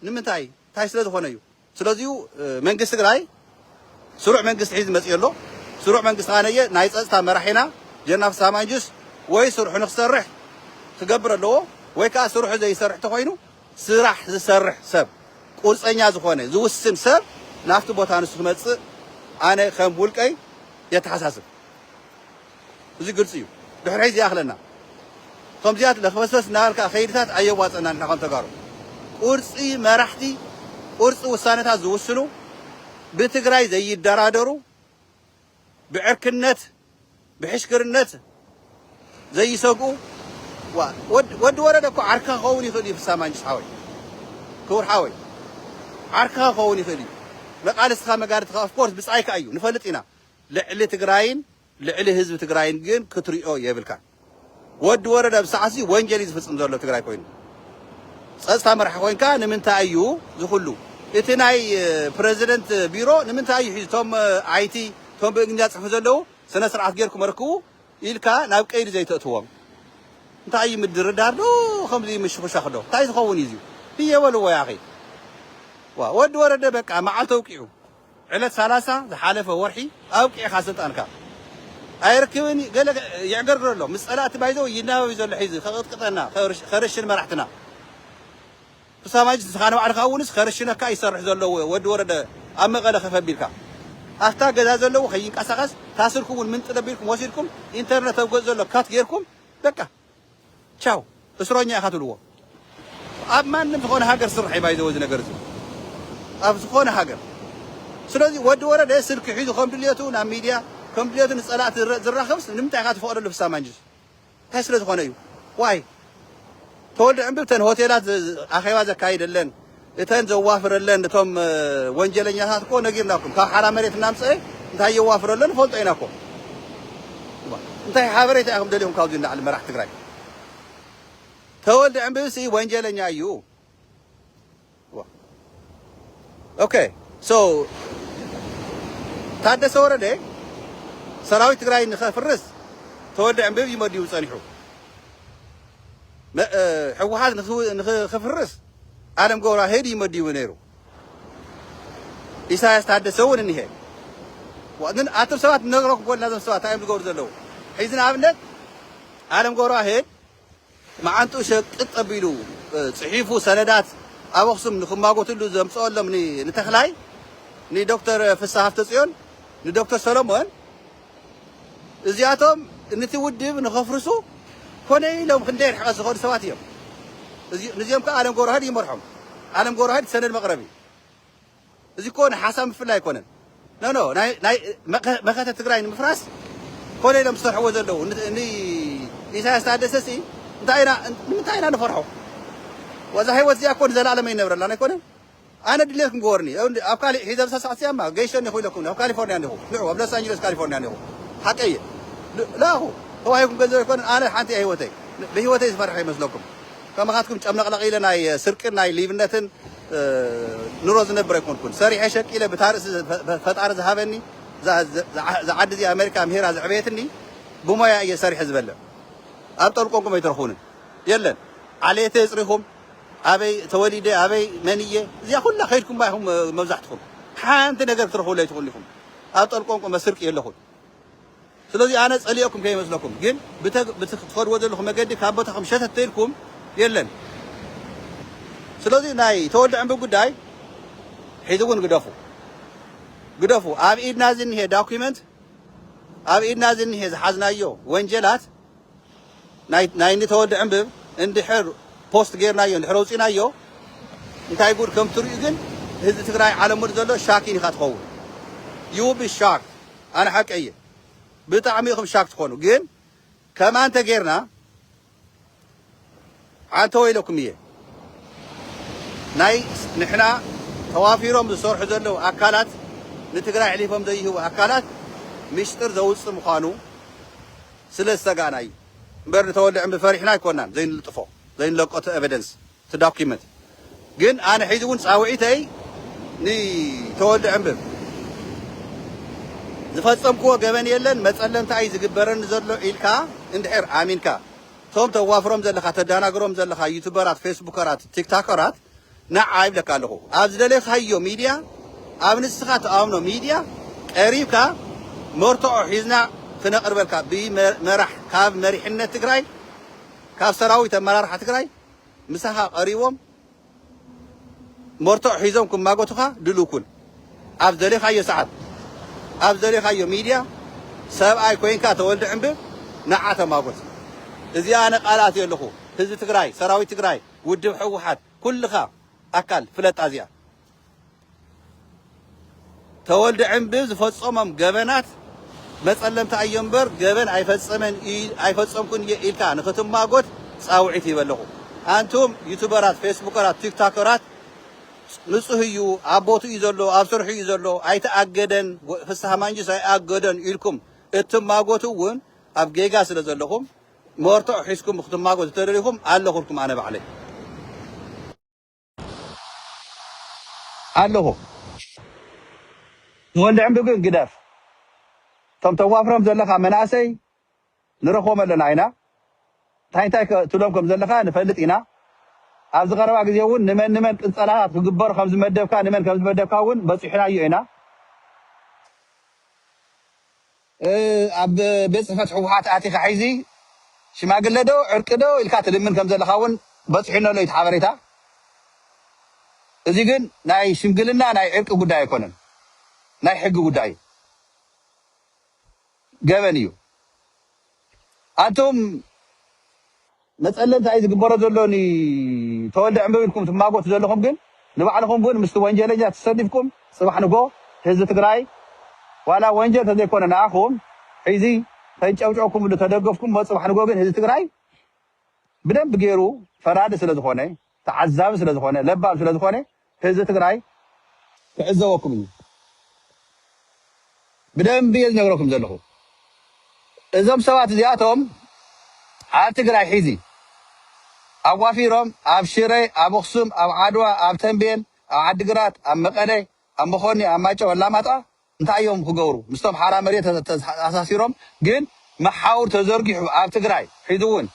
ንምንታይ እንታይ ስለ ዝኾነ እዩ ስለዚ'ዩ መንግስቲ ትግራይ ስሩዕ መንግስቲ ሒዙ መፂኡ ዘሎ። ስሩዕ መንግስቲ ከኣ ነየ ናይ ፀፅታ መራሒና ጀነራል ፍስሃ ማንጁስ ወይ ስርሑ ንክሰርሕ ክገብር ኣለዎ ወይ ከኣ ስርሑ ዘይሰርሕ ተኾይኑ ስራሕ ዝሰርሕ ሰብ ቁርፀኛ ዝኾነ ዝውስን ሰብ ናብቲ ቦታ ንሱ ክመፅእ ኣነ ከም ውልቀይ የተሓሳስብ። እዚ ግልፂ እዩ ድሕሪ ሕዚ ይኣኽለና ኸምዚኣት ለኽበስበስ እናበልካ ኸይድታት ኣየዋፀናን ንሕና ኸም ተጋሩ ቁርፂ መራሕቲ ቁርፂ ውሳነታት ዝውስኑ ብትግራይ ዘይደራደሩ ብዕርክነት ብሕሽክርነት ዘይሰግኡ ወዲ ወረደ እኮ ዓርካ ኸውን ይኽእል እዩ ፍሳ ማንጅስ ሓወይ ክቡር ሓወይ ዓርካ ኸውን ይኽእል እዩ መቃልስትኻ መጋድትኻ ኦፍኮርስ ብፃይካ እዩ ንፈልጥ ኢና ልዕሊ ትግራይን ልዕሊ ህዝቢ ትግራይን ግን ክትሪኦ የብልካን ወዲ ወረደ ኣብዚ ሰዓት እዚ ወንጀል እዩ ዝፍፅም ዘሎ ትግራይ ኮይኑ ፀፅታ መራሒ ኮይንካ ንምንታይ እዩ ዝኩሉ እቲ ናይ ፕረዚደንት ቢሮ ንምንታይ እዩ ሒዙ እቶም ኣይቲ እቶም ብእንግሊዝኛ ዝፅሕፉ ዘለው ስነ ስርዓት ጌርኩም ኣረክቡ ኢልካ ናብ ቀይዲ ዘይተእትዎም እንታይ እዩ ምድርዳር ዶ ከምዚ ምሽኹሻኽ ዶ እንታይ ዝኸውን እዩ እዚ ህየ በልዎ ያኺ ዋ ወዲ ወረደ በቃ መዓልቲ ኣውቂዑ ዕለት ሰላሳ ዝሓለፈ ወርሒ ኣብቂዕካ ስልጣንካ ኣይርክብን እዩ ገለ የዕገርግር ኣሎ ምስ ጸላእቲ ባይዘወይ ይናበብ እዩ ዘሎ ሒዚ ከቅጥቅጠና ከርሽን መራሕትና ክሳማጅ ንስኻ ንባዕልኻ እውንስ ከርሽነካ እዩ ዝሰርሕ ዘሎ ወዲ ወረደ ኣብ መቐለ ከፍ ኣቢልካ ኣብታ ገዛ ዘለዎ ከይንቀሳቐስ ታስርኩም እውን ምንጥል ኣቢልኩም ወሲድኩም ኢንተርነት ኣብ ገጽ ዘሎ ካት ጌርኩም በቃ ቻው እስሮኛ ኢኻ ትብልዎ ኣብ ማንም ዝኾነ ሃገር ስራሕ እዩ ባይዘወ እዚ ነገር እዚ ኣብ ዝኾነ ሃገር ስለዚ ወዲ ወረደ ስልኪ ሒዙ ከም ድልየቱ ናብ ሚድያ ከም ድልየቱ ንፀላእቲ ዝራኸብስ ንምንታይ ኢኻ ትፈቕደሉ ፍሳ ማንጅስ እንታይ ስለ ዝኾነ እዩ ዋይ ተወልደ ዕምብብተን ሆቴላት ኣኼባ ዘካይደለን እተን ዘዋፍረለን እቶም ወንጀለኛታት እኮ ነጊርናኩም ካብ ሓራ መሬት እናምፀኤ እንታይ የዋፍረለን ንፈልጦ ኢና እኮ እንታይ ሓበሬታ ኢኹም ደሊኹም ካብዚ ንላዕሊ መራሕቲ ትግራይ ተወልደ ዕንብብሲ ወንጀለኛ እዩ ኦኬ ሶ ታደሰ ወረደ ሰራዊት ትግራይ ንኸፍርስ ተወልደ ዕንብብ እዩ መዲቡ ፀኒሑ ህወሓት ንኽፍርስ ኣለም ገብረዋሄድ እዩ መዲቡ ነይሩ ኢሳያስ ታደሰ እውን እኒሀ ግን ኣቶም ሰባት ነግረኩም ኮልና ዞም ሰባት እንታይ እዮም ዝገብሩ ዘለዉ ሕዚ ንኣብነት ኣለም ገብረዋሄድ መዓንጥኡ ሸቅጥ ጠቢሉ ጽሒፉ ሰነዳት ኣብ ኣኽሱም ንክማጎትሉ ዘምጽኦሎም ንተኽላይ ንዶክተር ፍሳ ሃፍተ ጽዮን ንዶክተር ሰሎሞን እዚኣቶም ንቲ ውድብ ንኸፍርሱ ኮነ ኢሎም ክንደይ ርሕቐት ዝኸዱ ሰባት እዮም። ንዚኦም ከኣ ኣለም ገብረዋህድ ይመርሖም። ኣለም ገብረዋህድ ሰነድ መቕረቢ እዚ እኮ ንሓሳብ ምፍላይ ኣይኮነን። ኖ ኖ ናይ መኸተ ትግራይ ንምፍራስ ኮነ ኢሎም ዝሰርሕዎ ዘለዉ ንኢሳያስ ታደሰ ሲ እንታይ ኢና ንምንታይ ኢና ንፈርሖ? ወዛ ህይወት እዚኣ እኮ ንዘለኣለም ኣይነብረላን ኣይኮነን። ኣነ ድሌት ክንገወርኒ ኣብ ካሊእ ሒዘ ኣብዛ ሰዓት እዚኣ እማ ገይሸ እኒኹ ኢለኩም እኒኹ ኣብ ካሊፎርኒያ እኒኹ ንዑ ኣብ ሎስ ኣንጅለስ ካሊፎርኒያ እኒኹ ሓቀይ እየ ልኣኹ ተዋሂብኩም ገንዘብ ኣይኮነን ኣነ ሓንቲ እያ ሂወተይ ብሂወተይ ዝፈርሐ ይመስለኩም ከማኻትኩም ጨምለቕለቕ ኢለ ናይ ስርቅን ናይ ሊብነትን ኑሮ ዝነብር ኣይኮንኩን ሰሪሐ ሸቂለ ብታ ርእሲ ፈጣሪ ዝሃበኒ እዛ ዓዲ እዚኣ ኣሜሪካ ኣምሂራ ዘዕበየትኒ ብሞያ እየ ሰሪሐ ዝበልዕ ኣብ ጠልቆንኩም ኣይትረኹንን የለን ዓሌተይ የፅሪኹም ኣበይ ተወሊደ ኣበይ መን እየ እዚኣ ኩላ ከይድኩማ ኢኹም መብዛሕትኹም ሓንቲ ነገር ክትረኽብሉ ኣይትኽእሉ ኢኹም ኣብ ጠልቆንቆ መስርቅ የለኹን ስለዚ ኣነ ጸሊኦኩም ከይመስለኩም ግን ብቲ ክትኸድዎ ዘለኹም መገዲ ካብ ቦታኹም ሸተት ተይልኩም የለን ስለዚ ናይ ተወልደ ዕንቢ ጉዳይ ሕዚ እውን ግደፉ ግደፉ ኣብ ኢድና ዝኒሄ ዳኩመንት ኣብ ኢድና ዝኒሄ ዝሓዝናዮ ወንጀላት ናይ ናይ እኒ ተወልደ ዕንብብ እንድሕር ፖስት ጌርናዮ እንድሕር ኣውፂናዮ እንታይ ጉድ ከም ትሪኡ ግን ህዝቢ ትግራይ ዓለም ሙሉእ ዘሎ ሻኪን ኢኻ ትኸውን you will be shocked ኣነ ሓቀይ እየ ብጣዕሚ ኢኹም ሻክ ትኾኑ ግን ከማን ተጌርና ዓንተወ ኢለኩም እየ ናይ ንሕና ተዋፊሮም ዝሰርሑ ዘለው ኣካላት ንትግራይ ኣሕሊፎም ዘይህቡ ኣካላት ሚስጥር ዘውፅእ ምዃኑ ስለ ዝሰጋእና እዩ እምበር ንተወልደ ዕንቢ ፈሪሕና ኣይኮናን ዘይንልጥፎ ዘይንለቆ እቲ evidence እቲ document ግን ኣነ ሕዚ እውን ፃውዒተይ ንተወልደ ዕንብብ ዝፈፀምክዎ ገበን የለን መፀለምታ እዩ ዝግበረኒ ዘሎ ኢልካ እንድሕር ኣሚንካ ቶም ተዋፍሮም ዘለካ ተዳናግሮም ዘለካ ዩቱበራት ፌስቡከራት ቲክታከራት ነዓ ይብለካ ኣለኩ ኣብ ዝደለካዮ ሚድያ ኣብ ንስካ ትኣምኖ ሚድያ ቀሪብካ መርቶዖ ሒዝና ክነቅርበልካ ብመራሕ ካብ መሪሕነት ትግራይ ካብ ሰራዊት ኣመራርሓ ትግራይ ምሳካ ቀሪቦም መርትዖ ሒዞም ክማጎቱኻ ድሉው ኩን። ኣብ ዝደሌኻዮ ሰዓት፣ ኣብ ዝደሌኻዮ ሚድያ ሰብኣይ ኮይንካ ተወልዲ ዕንብብ ንዓ ተማጎት። እዚኣ ኣነ ቃል ኣትየ ኣለኹ። ህዝቢ ትግራይ፣ ሰራዊት ትግራይ፣ ውድብ ህወሓት፣ ኩልኻ ኣካል ፍለጣ እዚኣ። ተወልደ ዕንብብ ዝፈጸሞም ገበናት መጸለምቲ ኣዮም እምበር ገበን ኣይፈጸመን ኣይፈጸምኩን እየ ኢልካ ንክትማጎት ጻውዒት ይበ ኣለኹ። ኣንቱም ዩቱበራት፣ ፌስቡከራት፣ ቲክታከራት ንጹህ እዩ ኣብ ቦትኡ እዩ ዘሎ ኣብ ስርሑ እዩ ዘሎ ኣይተኣገደን ወ- ፍስሃ ማንጁስ ኣይኣገደን ኢልኩም እትማጎቱ እውን ኣብ ጌጋ ስለ ዘለኹም መርትዖ ሒዝኩም ክትማጎቱ ተደሊኹም ኣለኹልኩም ኣነ ባዕለይ ኣለኹ ተወልደ ዕንዱ ግን ግደፍ እቶም ተዋፍሮም ዘለኻ መናእሰይ ንረኽቦም ኣለና ኢና እንታይ እንታይ ከ ትብሎም ከም ዘለኻ ንፈልጥ ኢና ኣብዚ ቀረባ ግዜ እውን ንመን ንመን ቅንፀላታት ክግበሩ ከም ዝመደብካ ንመን ከም ዝመደብካ እውን በፂሑናዮ ኢና ኣብ ቤት ጽሕፈት ህውሓት ኣቲኻ ሕዚ ሽማግለ ዶ ዕርቂ ዶ ኢልካ ትልምን ከም ዘለኻ እውን በጺሑኒ ኣሎ እዩ እቲ ሓበሬታ። እዚ ግን ናይ ሽምግልና ናይ ዕርቂ ጉዳይ ኣይኮነን፣ ናይ ሕጊ ጉዳይ እዩ። ገበን እዩ። ኣንቱም። መጸለምታ እዩ ዝግበሮ ዘሎ ን ተወልደ ዕንበብ ኢልኩም ትማጎቱ ዘለኹም ግን ንባዕልኹም ውን ምስቲ ወንጀለኛ ተሰሊፍኩም ጽባሕ ንግሆ ህዝቢ ትግራይ ዋላ ወንጀል ተዘይኮነ ንኣኹም ሒዚ ተንጨብጨብኩምሉ ተደገፍኩሞ ጽባሕ ንግሆ ግን ህዝቢ ትግራይ ብደንቢ ጌሩ ፈራዲ ስለዝኾነ ተዓዛቢ ስለ ዝኮነ ለባም ስለ ዝኮነ ህዝቢ ትግራይ ክዕዘበኩም እዩ ብደንቢ እየ ዝነግረኩም ዘለኩ እዞም ሰባት እዚኣቶም ኣብ ትግራይ ሒዚ ኣዋፊሮም ኣብ ሽረ ኣብ ኣክሱም ኣብ ዓድዋ ኣብ ተንቤን ኣብ ዓዲግራት ኣብ መቀለ ኣብ መኮኒ ኣብ ማይጨው ኣላማጣ እንታይ እዮም ክገብሩ ምስቶም ሓራ መሬት ተኣሳሲሮም ግን መሓውር ተዘርጊሑ ኣብ ትግራይ ሕዚ ውን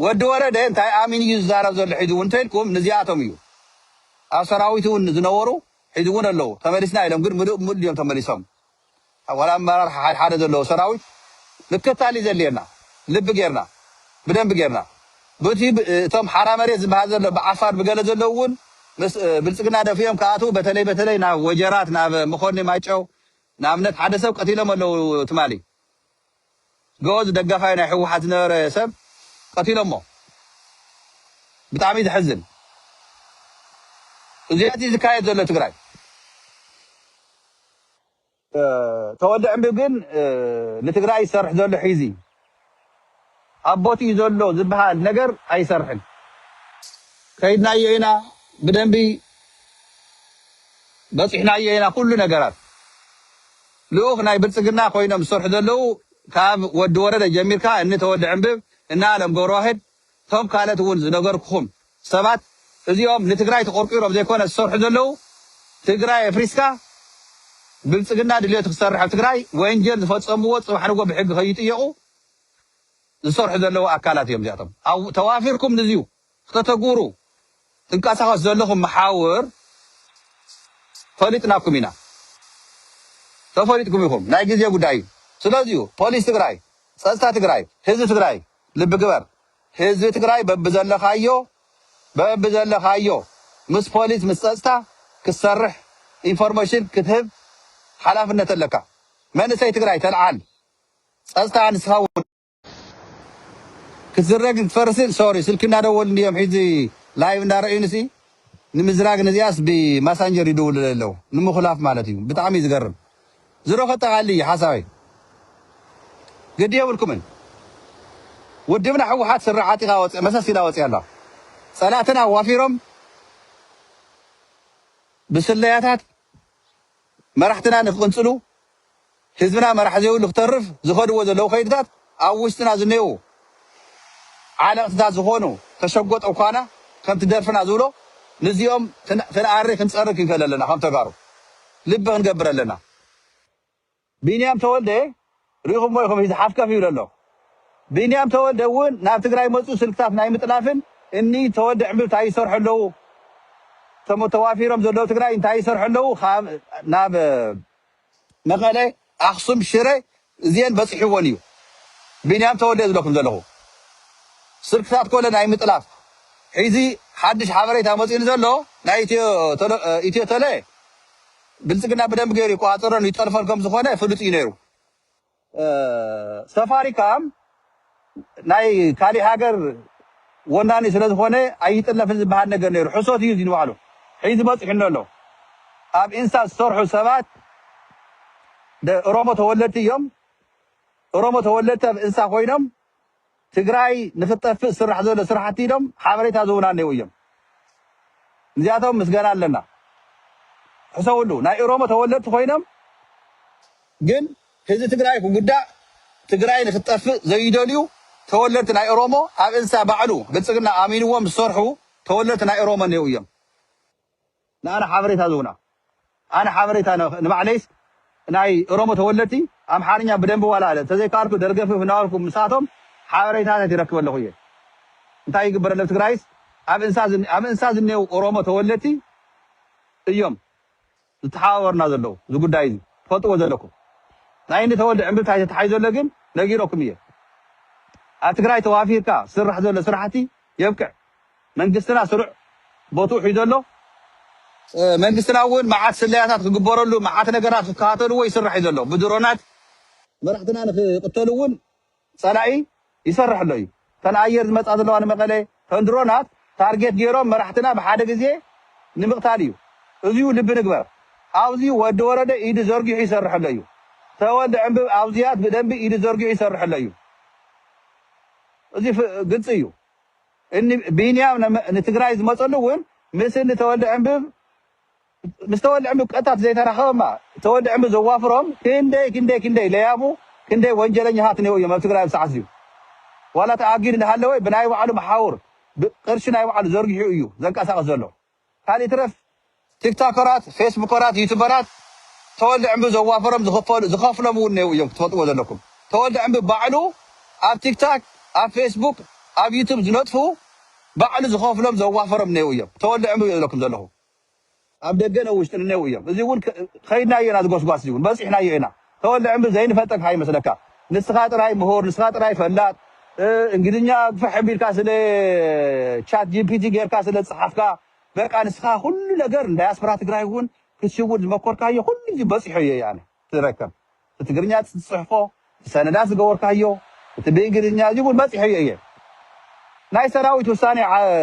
ወዲ ወረደ እንታይ ኣሚኑ እዩ ዝዛረብ ዘሎ ሕዚ ውን እንተልኩም ንዚኣቶም እዩ ኣብ ሰራዊት ውን ዝነበሩ ሕዚ ውን ኣለው ተመሊስና ኢሎም ግን ምሉእ ብምሉእ ድዮም ተመሊሶም ዋላ ኣመራርሓ ሓደ ሓደ ዘለዎ ሰራዊት ምክታል እዩ ዘድልየና ልቢ ጌርና ብደንቢ ጌርና ቡቲ እቶም ሓራ መሬት ዝብሃል ዘሎ ብዓፋር ብገለ ዘለዉ እውን ምስ ብልፅግና ደፊኦም ክኣትዉ በተለይ በተለይ ናብ ወጀራት ናብ መኾኒ ማይጨው ንኣብነት ሓደ ሰብ ቀቲሎም ኣለዉ ትማሊ ገወዝ ደጋፋይ ናይ ህወሓት ዝነበረ ሰብ ቀቲሎሞ ብጣዕሚ ዘሕዝን እዚኣት እዩ ዝካየድ ዘሎ ትግራይ። ተወልደ ዕንብብ ግን ንትግራይ ዝሰርሕ ዘሎ ሒዚ ኣብ ቦትኡ ዘሎ ዝበሃል ነገር ኣይሰርሕን። ከይድናዮ ኢና ብደንቢ በፂሕናዮ ኢና ኩሉ ነገራት ልኡኽ ናይ ብልፅግና ኮይኖም ዝሰርሑ ዘለዉ ካብ ወዲ ወረደ ጀሚርካ እኒ ተወልደ ዕንብብ እነ ኣለም ገብረዋህድ እቶም ካልኦት እውን ዝነገርኩኹም ሰባት እዚኦም ንትግራይ ተቆርቂሮም ዘይኮነ ዝሰርሑ ዘለው ትግራይ ኣፍሪስካ ብልፅግና ድልየቱ ክሰርሕ ኣብ ትግራይ ወንጀል ዝፈፀምዎ ፅባሕ ንጎ ብሕጊ ከይጥየቁ ዝሰርሑ ዘለው ኣካላት እዮም እዚኣቶም ኣብ ተዋፊርኩም ንዚዩ ክተተግብሩ ትንቀሳቀሱ ዘለኹም መሓውር ፈሊጥናኩም ኢና ተፈሊጥኩም ኢኹም ናይ ግዜ ጉዳይ እዩ ስለዚዩ ፖሊስ ትግራይ ፀፅታ ትግራይ ህዝቢ ትግራይ ልቢ ግበር ህዝቢ ትግራይ በብዘለኻዮ በብዘለኻዮ ምስ ፖሊስ ምስ ፀፅታ ክትሰርሕ ኢንፎርመሽን ክትህብ ሓላፍነት ኣለካ መንእሰይ ትግራይ ተልዓል ፀፅታ ንስኻ እውን ክትዝረግን ክትፈርስን ሶሪ ስልኪ እናደወሉ እንድዮም ሒዚ ላይቭ እንዳረእዩንሲ ንምዝራግ ንዚኣስ ብማሳንጀር ይድውሉለይ ኣለው ንምኹላፍ ማለት እዩ ብጣዕሚ እዩ ዝገርም ዝሮ ከጠቃልል እዩ ሓሳበይ ግዲ የብልኩምን ውድብና ህወሓት ስረ ዓጢቃ ወፂኣ መሰስ ኢላ ወፂኣ ኣላ ፀላእትና ኣዋፊሮም ብስለያታት መራሕትና ንክቅንፅሉ ህዝብና መራሒ ዘይብሉ ክተርፍ ዝከድዎ ዘለው ከይድታት ኣብ ውሽጥና ዝኔዉ ዓለቕትታት ዝኾኑ ተሸጎጥ እኳና ከምቲ ደርፍና ዝብሎ ንዚኦም ክንኣሪ ክንጸሪ ክንከል ኣለና ከም ተጋሩ ልቢ ክንገብር ኣለና። ቢንያም ተወልደ ሪኢኹሞ ኢኹም ሂዚ ሓፍከፍ ይብል ኣሎ ቢንያም ተወልደ ውን ናብ ትግራይ መጹ ስልክታት ናይ ምጥላፍን እኒ ተወልደ ዕንብብ ታይ ይሰርሑ ኣለዉ እቶም ተዋፊሮም ዘለዉ ትግራይ እንታይ ይሰርሑ ኣለዉ ካብ ናብ መቐለ ኣኽሱም ሽረ እዚኤን በጺሕወን እዩ ቢንያም ተወልደ ዝብለኩም ዘለኹ ስልክታት ኮለ ናይ ምጥላፍ ሒዚ ሓድሽ ሓበሬታ መጺኡኒ ዘሎ ናይ ኢትዮ ተለ ኢትዮ ተለ ብልጽግና ብደንቢ ገይሩ ይቆጻጸሮን ይጠልፎን ከም ዝኾነ ፍሉጥ እዩ ነይሩ ሰፋሪ ካኣ ናይ ካሊእ ሃገር ወናኒ ስለ ዝኮነ ኣይጥለፍን ዝባሃል ነገር ነይሩ ሕሶት እዩ እዚ ንባዕሉ ሒዚ በፂሑኒ ኣሎ ኣብ ኢንስታ ዝሰርሑ ሰባት እሮሞ ተወለድቲ እዮም እሮሞ ተወለድቲ ኣብ እንስሳ ኮይኖም ትግራይ ንክትጠፍእ ዝስራሕ ዘሎ ስራሕቲ ኢሎም ሓበሬታ ዝህቡና እኔዉ እዮም ንዚኣቶም ምስገና ኣለና ሕሰብሉ ናይ እሮሞ ተወለድቲ ኮይኖም ግን ህዝቢ ትግራይ ክጉዳእ ትግራይ ንክትጠፍእ ዘይደልዩ ተወለድቲ ናይ እሮሞ ኣብ እንሳ ባዕሉ ብልፅግና ኣሚንዎም ዝሰርሑ ተወለድቲ ናይ እሮሞ እኔዉ እዮም ንኣና ሓበሬታ ዝውና ኣነ ሓበሬታ ንባዕለይስ ናይ እሮሞ ተወለድቲ ኣምሓርኛ ብደንቢ ዋላ ተዘይካኣልኩ ደርገፍፍ እናበልኩ ምሳቶም ሓበሬታታት ይረክብ ኣለኹ እየ እንታይ ይግበረለብ ትግራይስ ኣብ እንሳ ዝኔው እሮሞ ተወለድቲ እዮም ዝተሓባበሩና ዘለው እዚ ጉዳይ እዚ ትፈልጥዎ ዘለኩም ናይ እኒ ተወልደ ዕምብብታይ ተታሒዞለ ግን ነጊረኩም እየ ኣብ ትግራይ ተዋፊርካ ዝስራሕ ዘሎ ስራሕቲ የብቅዕ መንግስትና ስሩዕ ቦትኡ ሒዙ ኣሎ መንግስትና ውን መዓት ስለያታት ክግበረሉ መዓት ነገራት ክከታተልዎ ይስራሕ ዩ ዘሎ ብድሮናት መራሕትና ንክቅተሉ ውን ፀላኢ ይሰርሕ ኣሎ ዩ ተን ኣየር ዝመፃ ዘለዋ ንመቀለ ተን ድሮናት ታርጌት ገይሮም መራሕትና ብሓደ ግዜ ንምቅታል ዩ እዙይ ልቢ ንግበር ኣብዙይ ወዲ ወረደ ኢዱ ዘርጊሑ ይሰርሕ ኣሎ ዩ ተወልደ ዕንብብ ኣብዙያት ብደንቢ ኢዱ ዘርጊሑ ይሰርሕ ኣሎ ዩ። እዚ ግልፂ እዩ እኒ ቢንያም ንትግራይ ዝመፀሉ እውን ምስ እኒ ተወልደ ዕንብብ ምስ ተወልደ ዕንብብ ቀጥታ ዘይተራኸበ እማ ተወልደ ዕንብብ ዘዋፍሮም ክንደይ ክንደይ ክንደይ ለያቡ ክንደይ ወንጀለኛታት እኒኦ እዮም ኣብ ትግራይ ኣብ ሰዓት እዚኡ ዋላ ተኣጊዱ እንዳሃለወ ብናይ ባዕሉ መሓውር ቅርሺ ናይ ባዕሉ ዘርጊሑ እዩ ዘንቀሳቕስ ዘሎ ካልእ ይትረፍ ቲክታከራት ፌስቡከራት ዩቱበራት ተወልደ ዕንቡ ዘዋፈሮም ዝኸፍሎም እውን እኔዉ እዮም ክትፈልጥዎ ዘለኩም ተወልደ ዕንቡ ባዕሉ ኣብ ቲክታክ ኣብ ፌስቡክ ኣብ ዩቱብ ዝነጥፉ ባዕሉ ዝኸፍሎም ዘዋፈሮም እኔዉ እዮም ተወልደ ዕንቡ እየ ዝብለኩም ዘለኹ ኣብ ደገን ኣብ ውሽጥን እኔዉ እዮም እዚ እውን ከይድናዮ ኢና እዚ ጎስጓስ እዚ እውን በፂሕናዮ ኢና ተወልደ ዕምሪ ዘይንፈልጠካ ከይመስለካ ንስካ ጥራይ ምሁር ንስካ ጥራይ ፈላጥ እንግሊዝኛ ግፍሕ ኣቢልካ ስለ ቻት ጂፒቲ ጌርካ ስለ ዝጸሓፍካ በቃ ንስካ ኩሉ ነገር ንዳያስፖራ ትግራይ ውን ክትሽውድ ዝመኮርካዮ ኩሉ እዚ በጺሖ ኢየ ኣነ ትረከብ እቲ ትግርኛ ትጽሕፎ እቲ ሰነዳት ዝገበርካዮ እቲ ብእንግሊዝኛ እዚ ውን በጺሖዮ ኢየ ናይ ሰራዊት ውሳኔ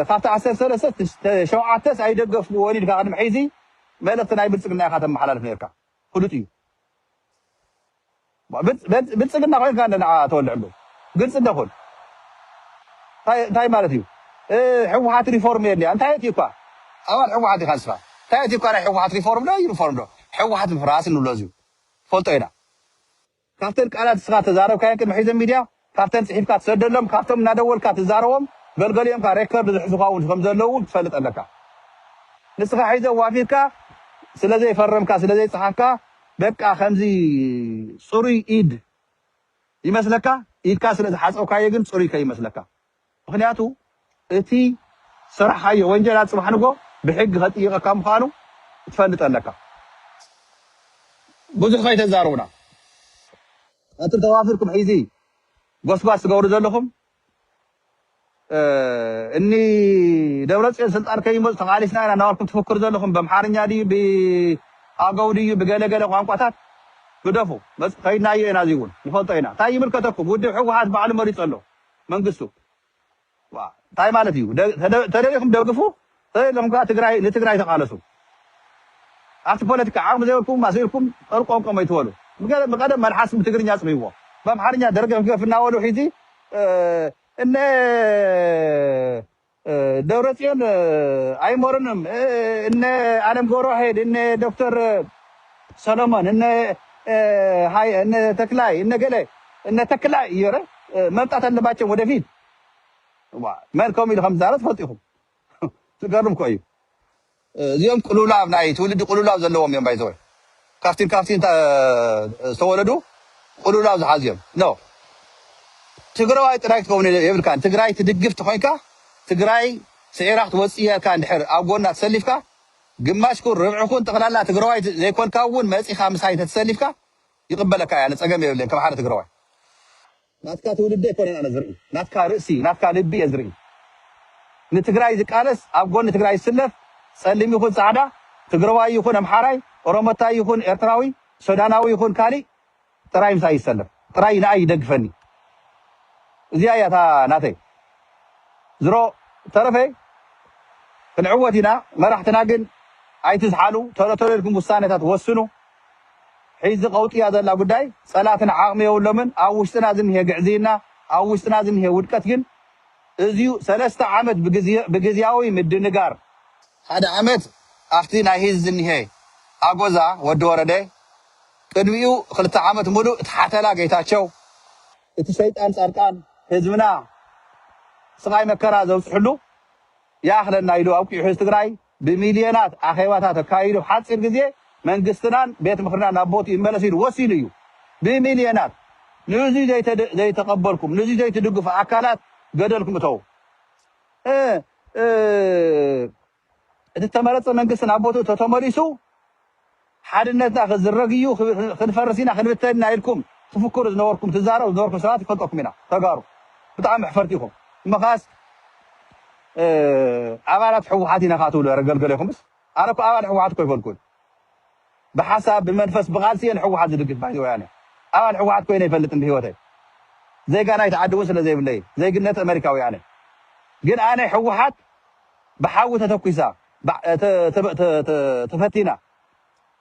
ካብቲ ዓሰርተ ሰለስተ ሸውዓተስ ኣይደገፍኩዎን ኢልካ ቅድሚ ሕዚ መልእክቲ ናይ ብልጽግና ኢካ ተመሓላልፍ ኔርካ ፍሉጥ እዩ ብልፅግና ኮይንካ እንዶ ንዓ ተወልዕ እንዶ ግልፂ እንዶ ኩን ታይ ማለት እዩ ሕወሓት ሪፎርም የድልያ እንታይ ኣትዩ እኳ ኣባል ሕወሓት ዲካ ንስካ ታይ ኣትዩ እኳ ናይ ሕወሓት ሪፎርም ዶ ዩኒፎርም ዶ ሕወሓት ምፍራስ እንብሎ እዙይ ትፈልጦ ኢና ካብተን ቃላት እስኻ እተዛረብካየን ቅድሚ ሕዚ ሚድያ ካብተን ፅሒፍካ ትሰደሎም ካብቶም እናደወልካ ትዛረቦም ገልገሊኦም ካዓ ሬከርድ ዝሕዙኻ እውን ከምዘለው እውን ትፈልጥ ኣለካ ንስኻ ሕዚ ኣዋፊርካ ስለዘይፈረምካ ስለዘይፀሓፍካ በቃ ከምዚ ፅሩይ ኢድ ይመስለካ ኢድካ ስለዝሓፀብካዮ ግን ፅሩይ ከይመስለካ ምኽንያቱ እቲ ዝሰራሕኻዮ ወንጀል ኣብ ጽባሕ ንግሆ ብሕጊ ከጥይቀካ ምዃኑ ክትፈልጥ ኣለካ። ብዙሕ ከይተዛረቡና ኣቱም ተዋፊርኩም ሕዚ ጎስጓስ ትገብሩ ዘለኹም እኒ ደብረጽዮን ስልጣን ከይመጹ ተቓሊስና ኢና እናበልኩም ትፍክሩ ዘለኹም በምሓርኛ ድዩ ብኣገው ድዩ ብገለገለ ቋንቋታት ግደፉ። መጽ ከይድናዮ ኢና እዚ እውን ንፈልጦ ኢና። እንታይ ይምልከተኩም ውድብ ሕወሓት ባዕሉ መሪጹ ኣሎ። መንግስቱ ታይ ማለት እዩ ተደሊኩም ደግፉ ተደሊኩም ከኣ ትግራይ ንትግራይ ተቃለሱ ኣብቲ ፖለቲካ ዓቅሚ ዘይብልኩም ኣስኢልኩም ጠርቆምቆም ኣይትበሉ ብቀደም መልሓስም ብትግርኛ ኣጽርይዎ ብኣምሓርኛ ደርገፍገፍ እናበሉ ሒዚ እነ ደብረፅዮን ኣይሞርንም እነ ኣለም ገብረዋሄድ እነ ዶክተር ሰሎሞን እነ ሃይ እነ ተክላይ እነ ገለ እነ ተክላይ እዮረ መምጣት ኣለባቸው ወደፊት መን ከምኡ ኢሉ ከም ዝዛረብ ትፈልጡ ኢኹም ዝገርም እኮ እዩ እዚኦም ቅሉውላው ናይ ትውልዲ ቅሉውላው ዘለዎም እዮም ባይ ዘ ወይ ካብቲን ካብቲን ዝተወለዱ ቅሉውላው ዝሓዙ እዮም ን ትግረዋይ ጥራይ ክትከውን የብልካን ትግራይ ትድግፍ ተኮይንካ ትግራይ ስዒራ ክትወፅእ እያ ኢልካ እንድሕር ኣብ ጎና ተሰሊፍካ ግማሽኩን ርብዕኩን ጠቅላላ ትግረዋይ ዘይኮንካ እውን መፂኻ ምሳይ እንተተሰሊፍካ ይቅበለካ እየ ኣነ ፀገም የብለይን ከም ሓደ ትግረዋይ ናትካ ትውልዲ ኣይኮነን ኣነ ዝርኢ ናትካ ርእሲ ናትካ ልቢ እየ ዝርኢ ንትግራይ ዝቃለስ ኣብ ጎኒ ትግራይ ዝስለፍ ፀሊም ይኹን ፃዕዳ ትግረዋይ ይኹን ኣምሓራይ ኦሮሞታይ ይኹን ኤርትራዊ ሶዳናዊ ይኹን ካሊእ ጥራይ ምሳይ ይሰለፍ ጥራይ ንኣይ ይደግፈኒ እዚኣ እያ እታ ናተይ ዝሮ ተረፈ ክንዕወት ኢና መራሕትና ግን ኣይትዝሓሉ ተሎ ተሎ ኢልኩም ውሳነታት ወስኑ ሒዚ ቀውጢ እያ ዘላ ጉዳይ ፀላትና ዓቅሚ የብሎምን ኣብ ውሽጥና ዝኒሀ ግዕዝይና ኣብ ውሽጥና ዝኒሀ ውድቀት ግን እዝዩ ሰለስተ ዓመት ብግዝያዊ ምድንጋር ሓደ ዓመት ኣብቲ ናይ ሂዝ ዝኒሀ ኣጎዛ ወዲ ወረደ ቅድሚኡ ክልተ ዓመት ሙሉእ እቲ ሓተላ ገይታቸው እቲ ሸይጣን ፃድቃን ህዝብና ስቃይ መከራ ዘብፅሕሉ ይኣክለና ኢሉ ኣብቂዑ ሒዚ ትግራይ ብሚልዮናት ኣኼባታት ኣካይዱ ኣብ ሓጺር ግዜ መንግስትናን ቤት ምኽርናን ናብ ቦትኡ ይመለስ ኢሉ ወሲኑ እዩ። ብሚልዮናት ንእዙይ ዘይተቐበልኩም ንእዙይ ዘይትድግፉ ኣካላት ገደልኩም እተዉ። እ እ እቲ እተመረጸ መንግስቲ ናብ ቦትኡ ተተመሊሱ ሓድነትና ክዝረግ ኢዩ ክንፈርስ ኢና ክንብተን ኢና ኢልኩም ትፍክሩ ዝነበርኩም ትዛረቡ ዝነበርኩም ሰባት ንፈልጠኩም ኢና ተጋሩ ብጣዕሚ መሕፈርቲ ኢኹም እምኻስ ኣባላት ሕወሓት ኢና ከኣ ትብሉ ኧረ ገልገለ ኢኹምስ ኣነ እኮ ኣባል ሕወሓት እኮ ኣይፈልኩን ብሓሳብ ብመንፈስ ብቃልሲ እየ ንሕወሓት ዝድግፍ ባይዘ ወያነ ኣባል ሕወሓት ኮይነ ኣይፈልጥን ብህይወተይ ዜጋ ናይቲ ዓዲ እውን ስለ ዘይብለይ ዜግነት ኣመሪካዊ ኣነ ግን ኣነ ሕወሓት ብሓዊ ተተኲሳ ተፈቲና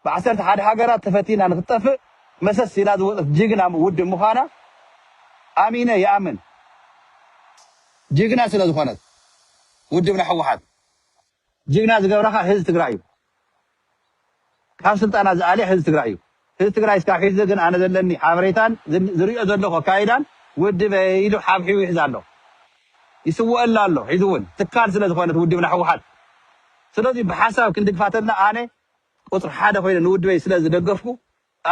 ብዓሰርተ ሓደ ሃገራት ተፈቲና ንክትጠፍእ መሰስ ኢላ ዝወፀት ጅግና ውድብ ምዃና ኣሚነ ይኣምን ጅግና ስለዝኾነት ውድብና ህወሓት ጅግና ዝገብራኻ ህዝ ትግራይ እዩ ካብ ስልጣና ዝኣልየ ህዝቢ ትግራይ እዩ። ህዝቢ ትግራይ እስካብ ሕዚ ግን ኣነ ዘለኒ ሓበሬታን ዝሪኦ ዘለኹ ኣካይዳን ውድበይ ኢሉ ሓብሒቡ ይሕዛ ኣሎ። ይስወኣላ ኣሎ ሕዚ እውን ትካል ስለ ዝኾነት ውድብና ህወሓት። ስለዙይ ብሓሳብ ክንድግፋ ተለና ኣነ ቁፅሪ ሓደ ኮይነ ንውድበይ ስለ ዝደገፍኩ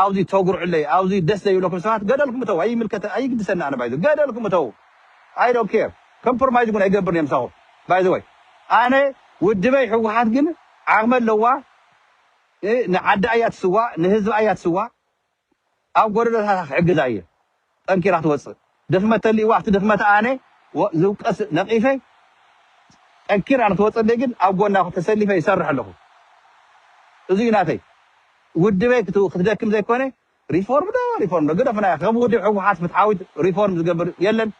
ኣብዙይ ተጉርዑለይ ኣብዙይ ደስ ዘይብለኩም ሰባት ገደልኩም እተዉ ኣይምልከተ ኣይግድሰኒ ኣነ ባይዘወይ ገደልኩም እተዉ ኣይ ዶንት ኬር ከምፕሮማይዝ እዉን ኣይገብርን እየ ምሳኩም ባይዘወይ ኣነ ዉድበይ ህወሓት ግን ዓቅሚ ኣለዋ ንዓዳ እያ ትስዋእ ንህዝባ እያ ትስዋእ ኣብ ጎደሎታታ ክሕግዛ እየ ጠንኪራ ትወጽእ ድክመት ተሊእዋ ኣብቲ ድክመታ ኣነ ዝውቀስ ነቂፈ ጠንኪራ ንክትወጸለይ ግን ኣብ ጎና ተሰሊፈ ይሰርሕ ኣለኩ እዚ እዩ ናተይ ውድበይ ክትደክም ዘይኮነ ሪፎርም ዶ ሪፎርም ዶ ግደፉና ከም ውድብ ሕወሓት ፍትሓዊት ሪፎርም ዝገብር የለን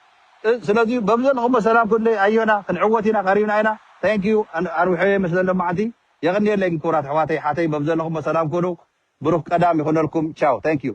ስለዚ በዚ ዘለኩሞ ሰላም ኩንደይ ኣዮና ክንዕወት ኢና ቀሪብና ኢና thank you ኣርዊሐየ መስለ ሎማዓንቲ የቅንየለይ ክቡራት ኣሕዋተይ ሓተይ በብዘለኩሞ ሰላም ኩኑ ብሩክ ቀዳም ይኩነልኩም ቻው thank you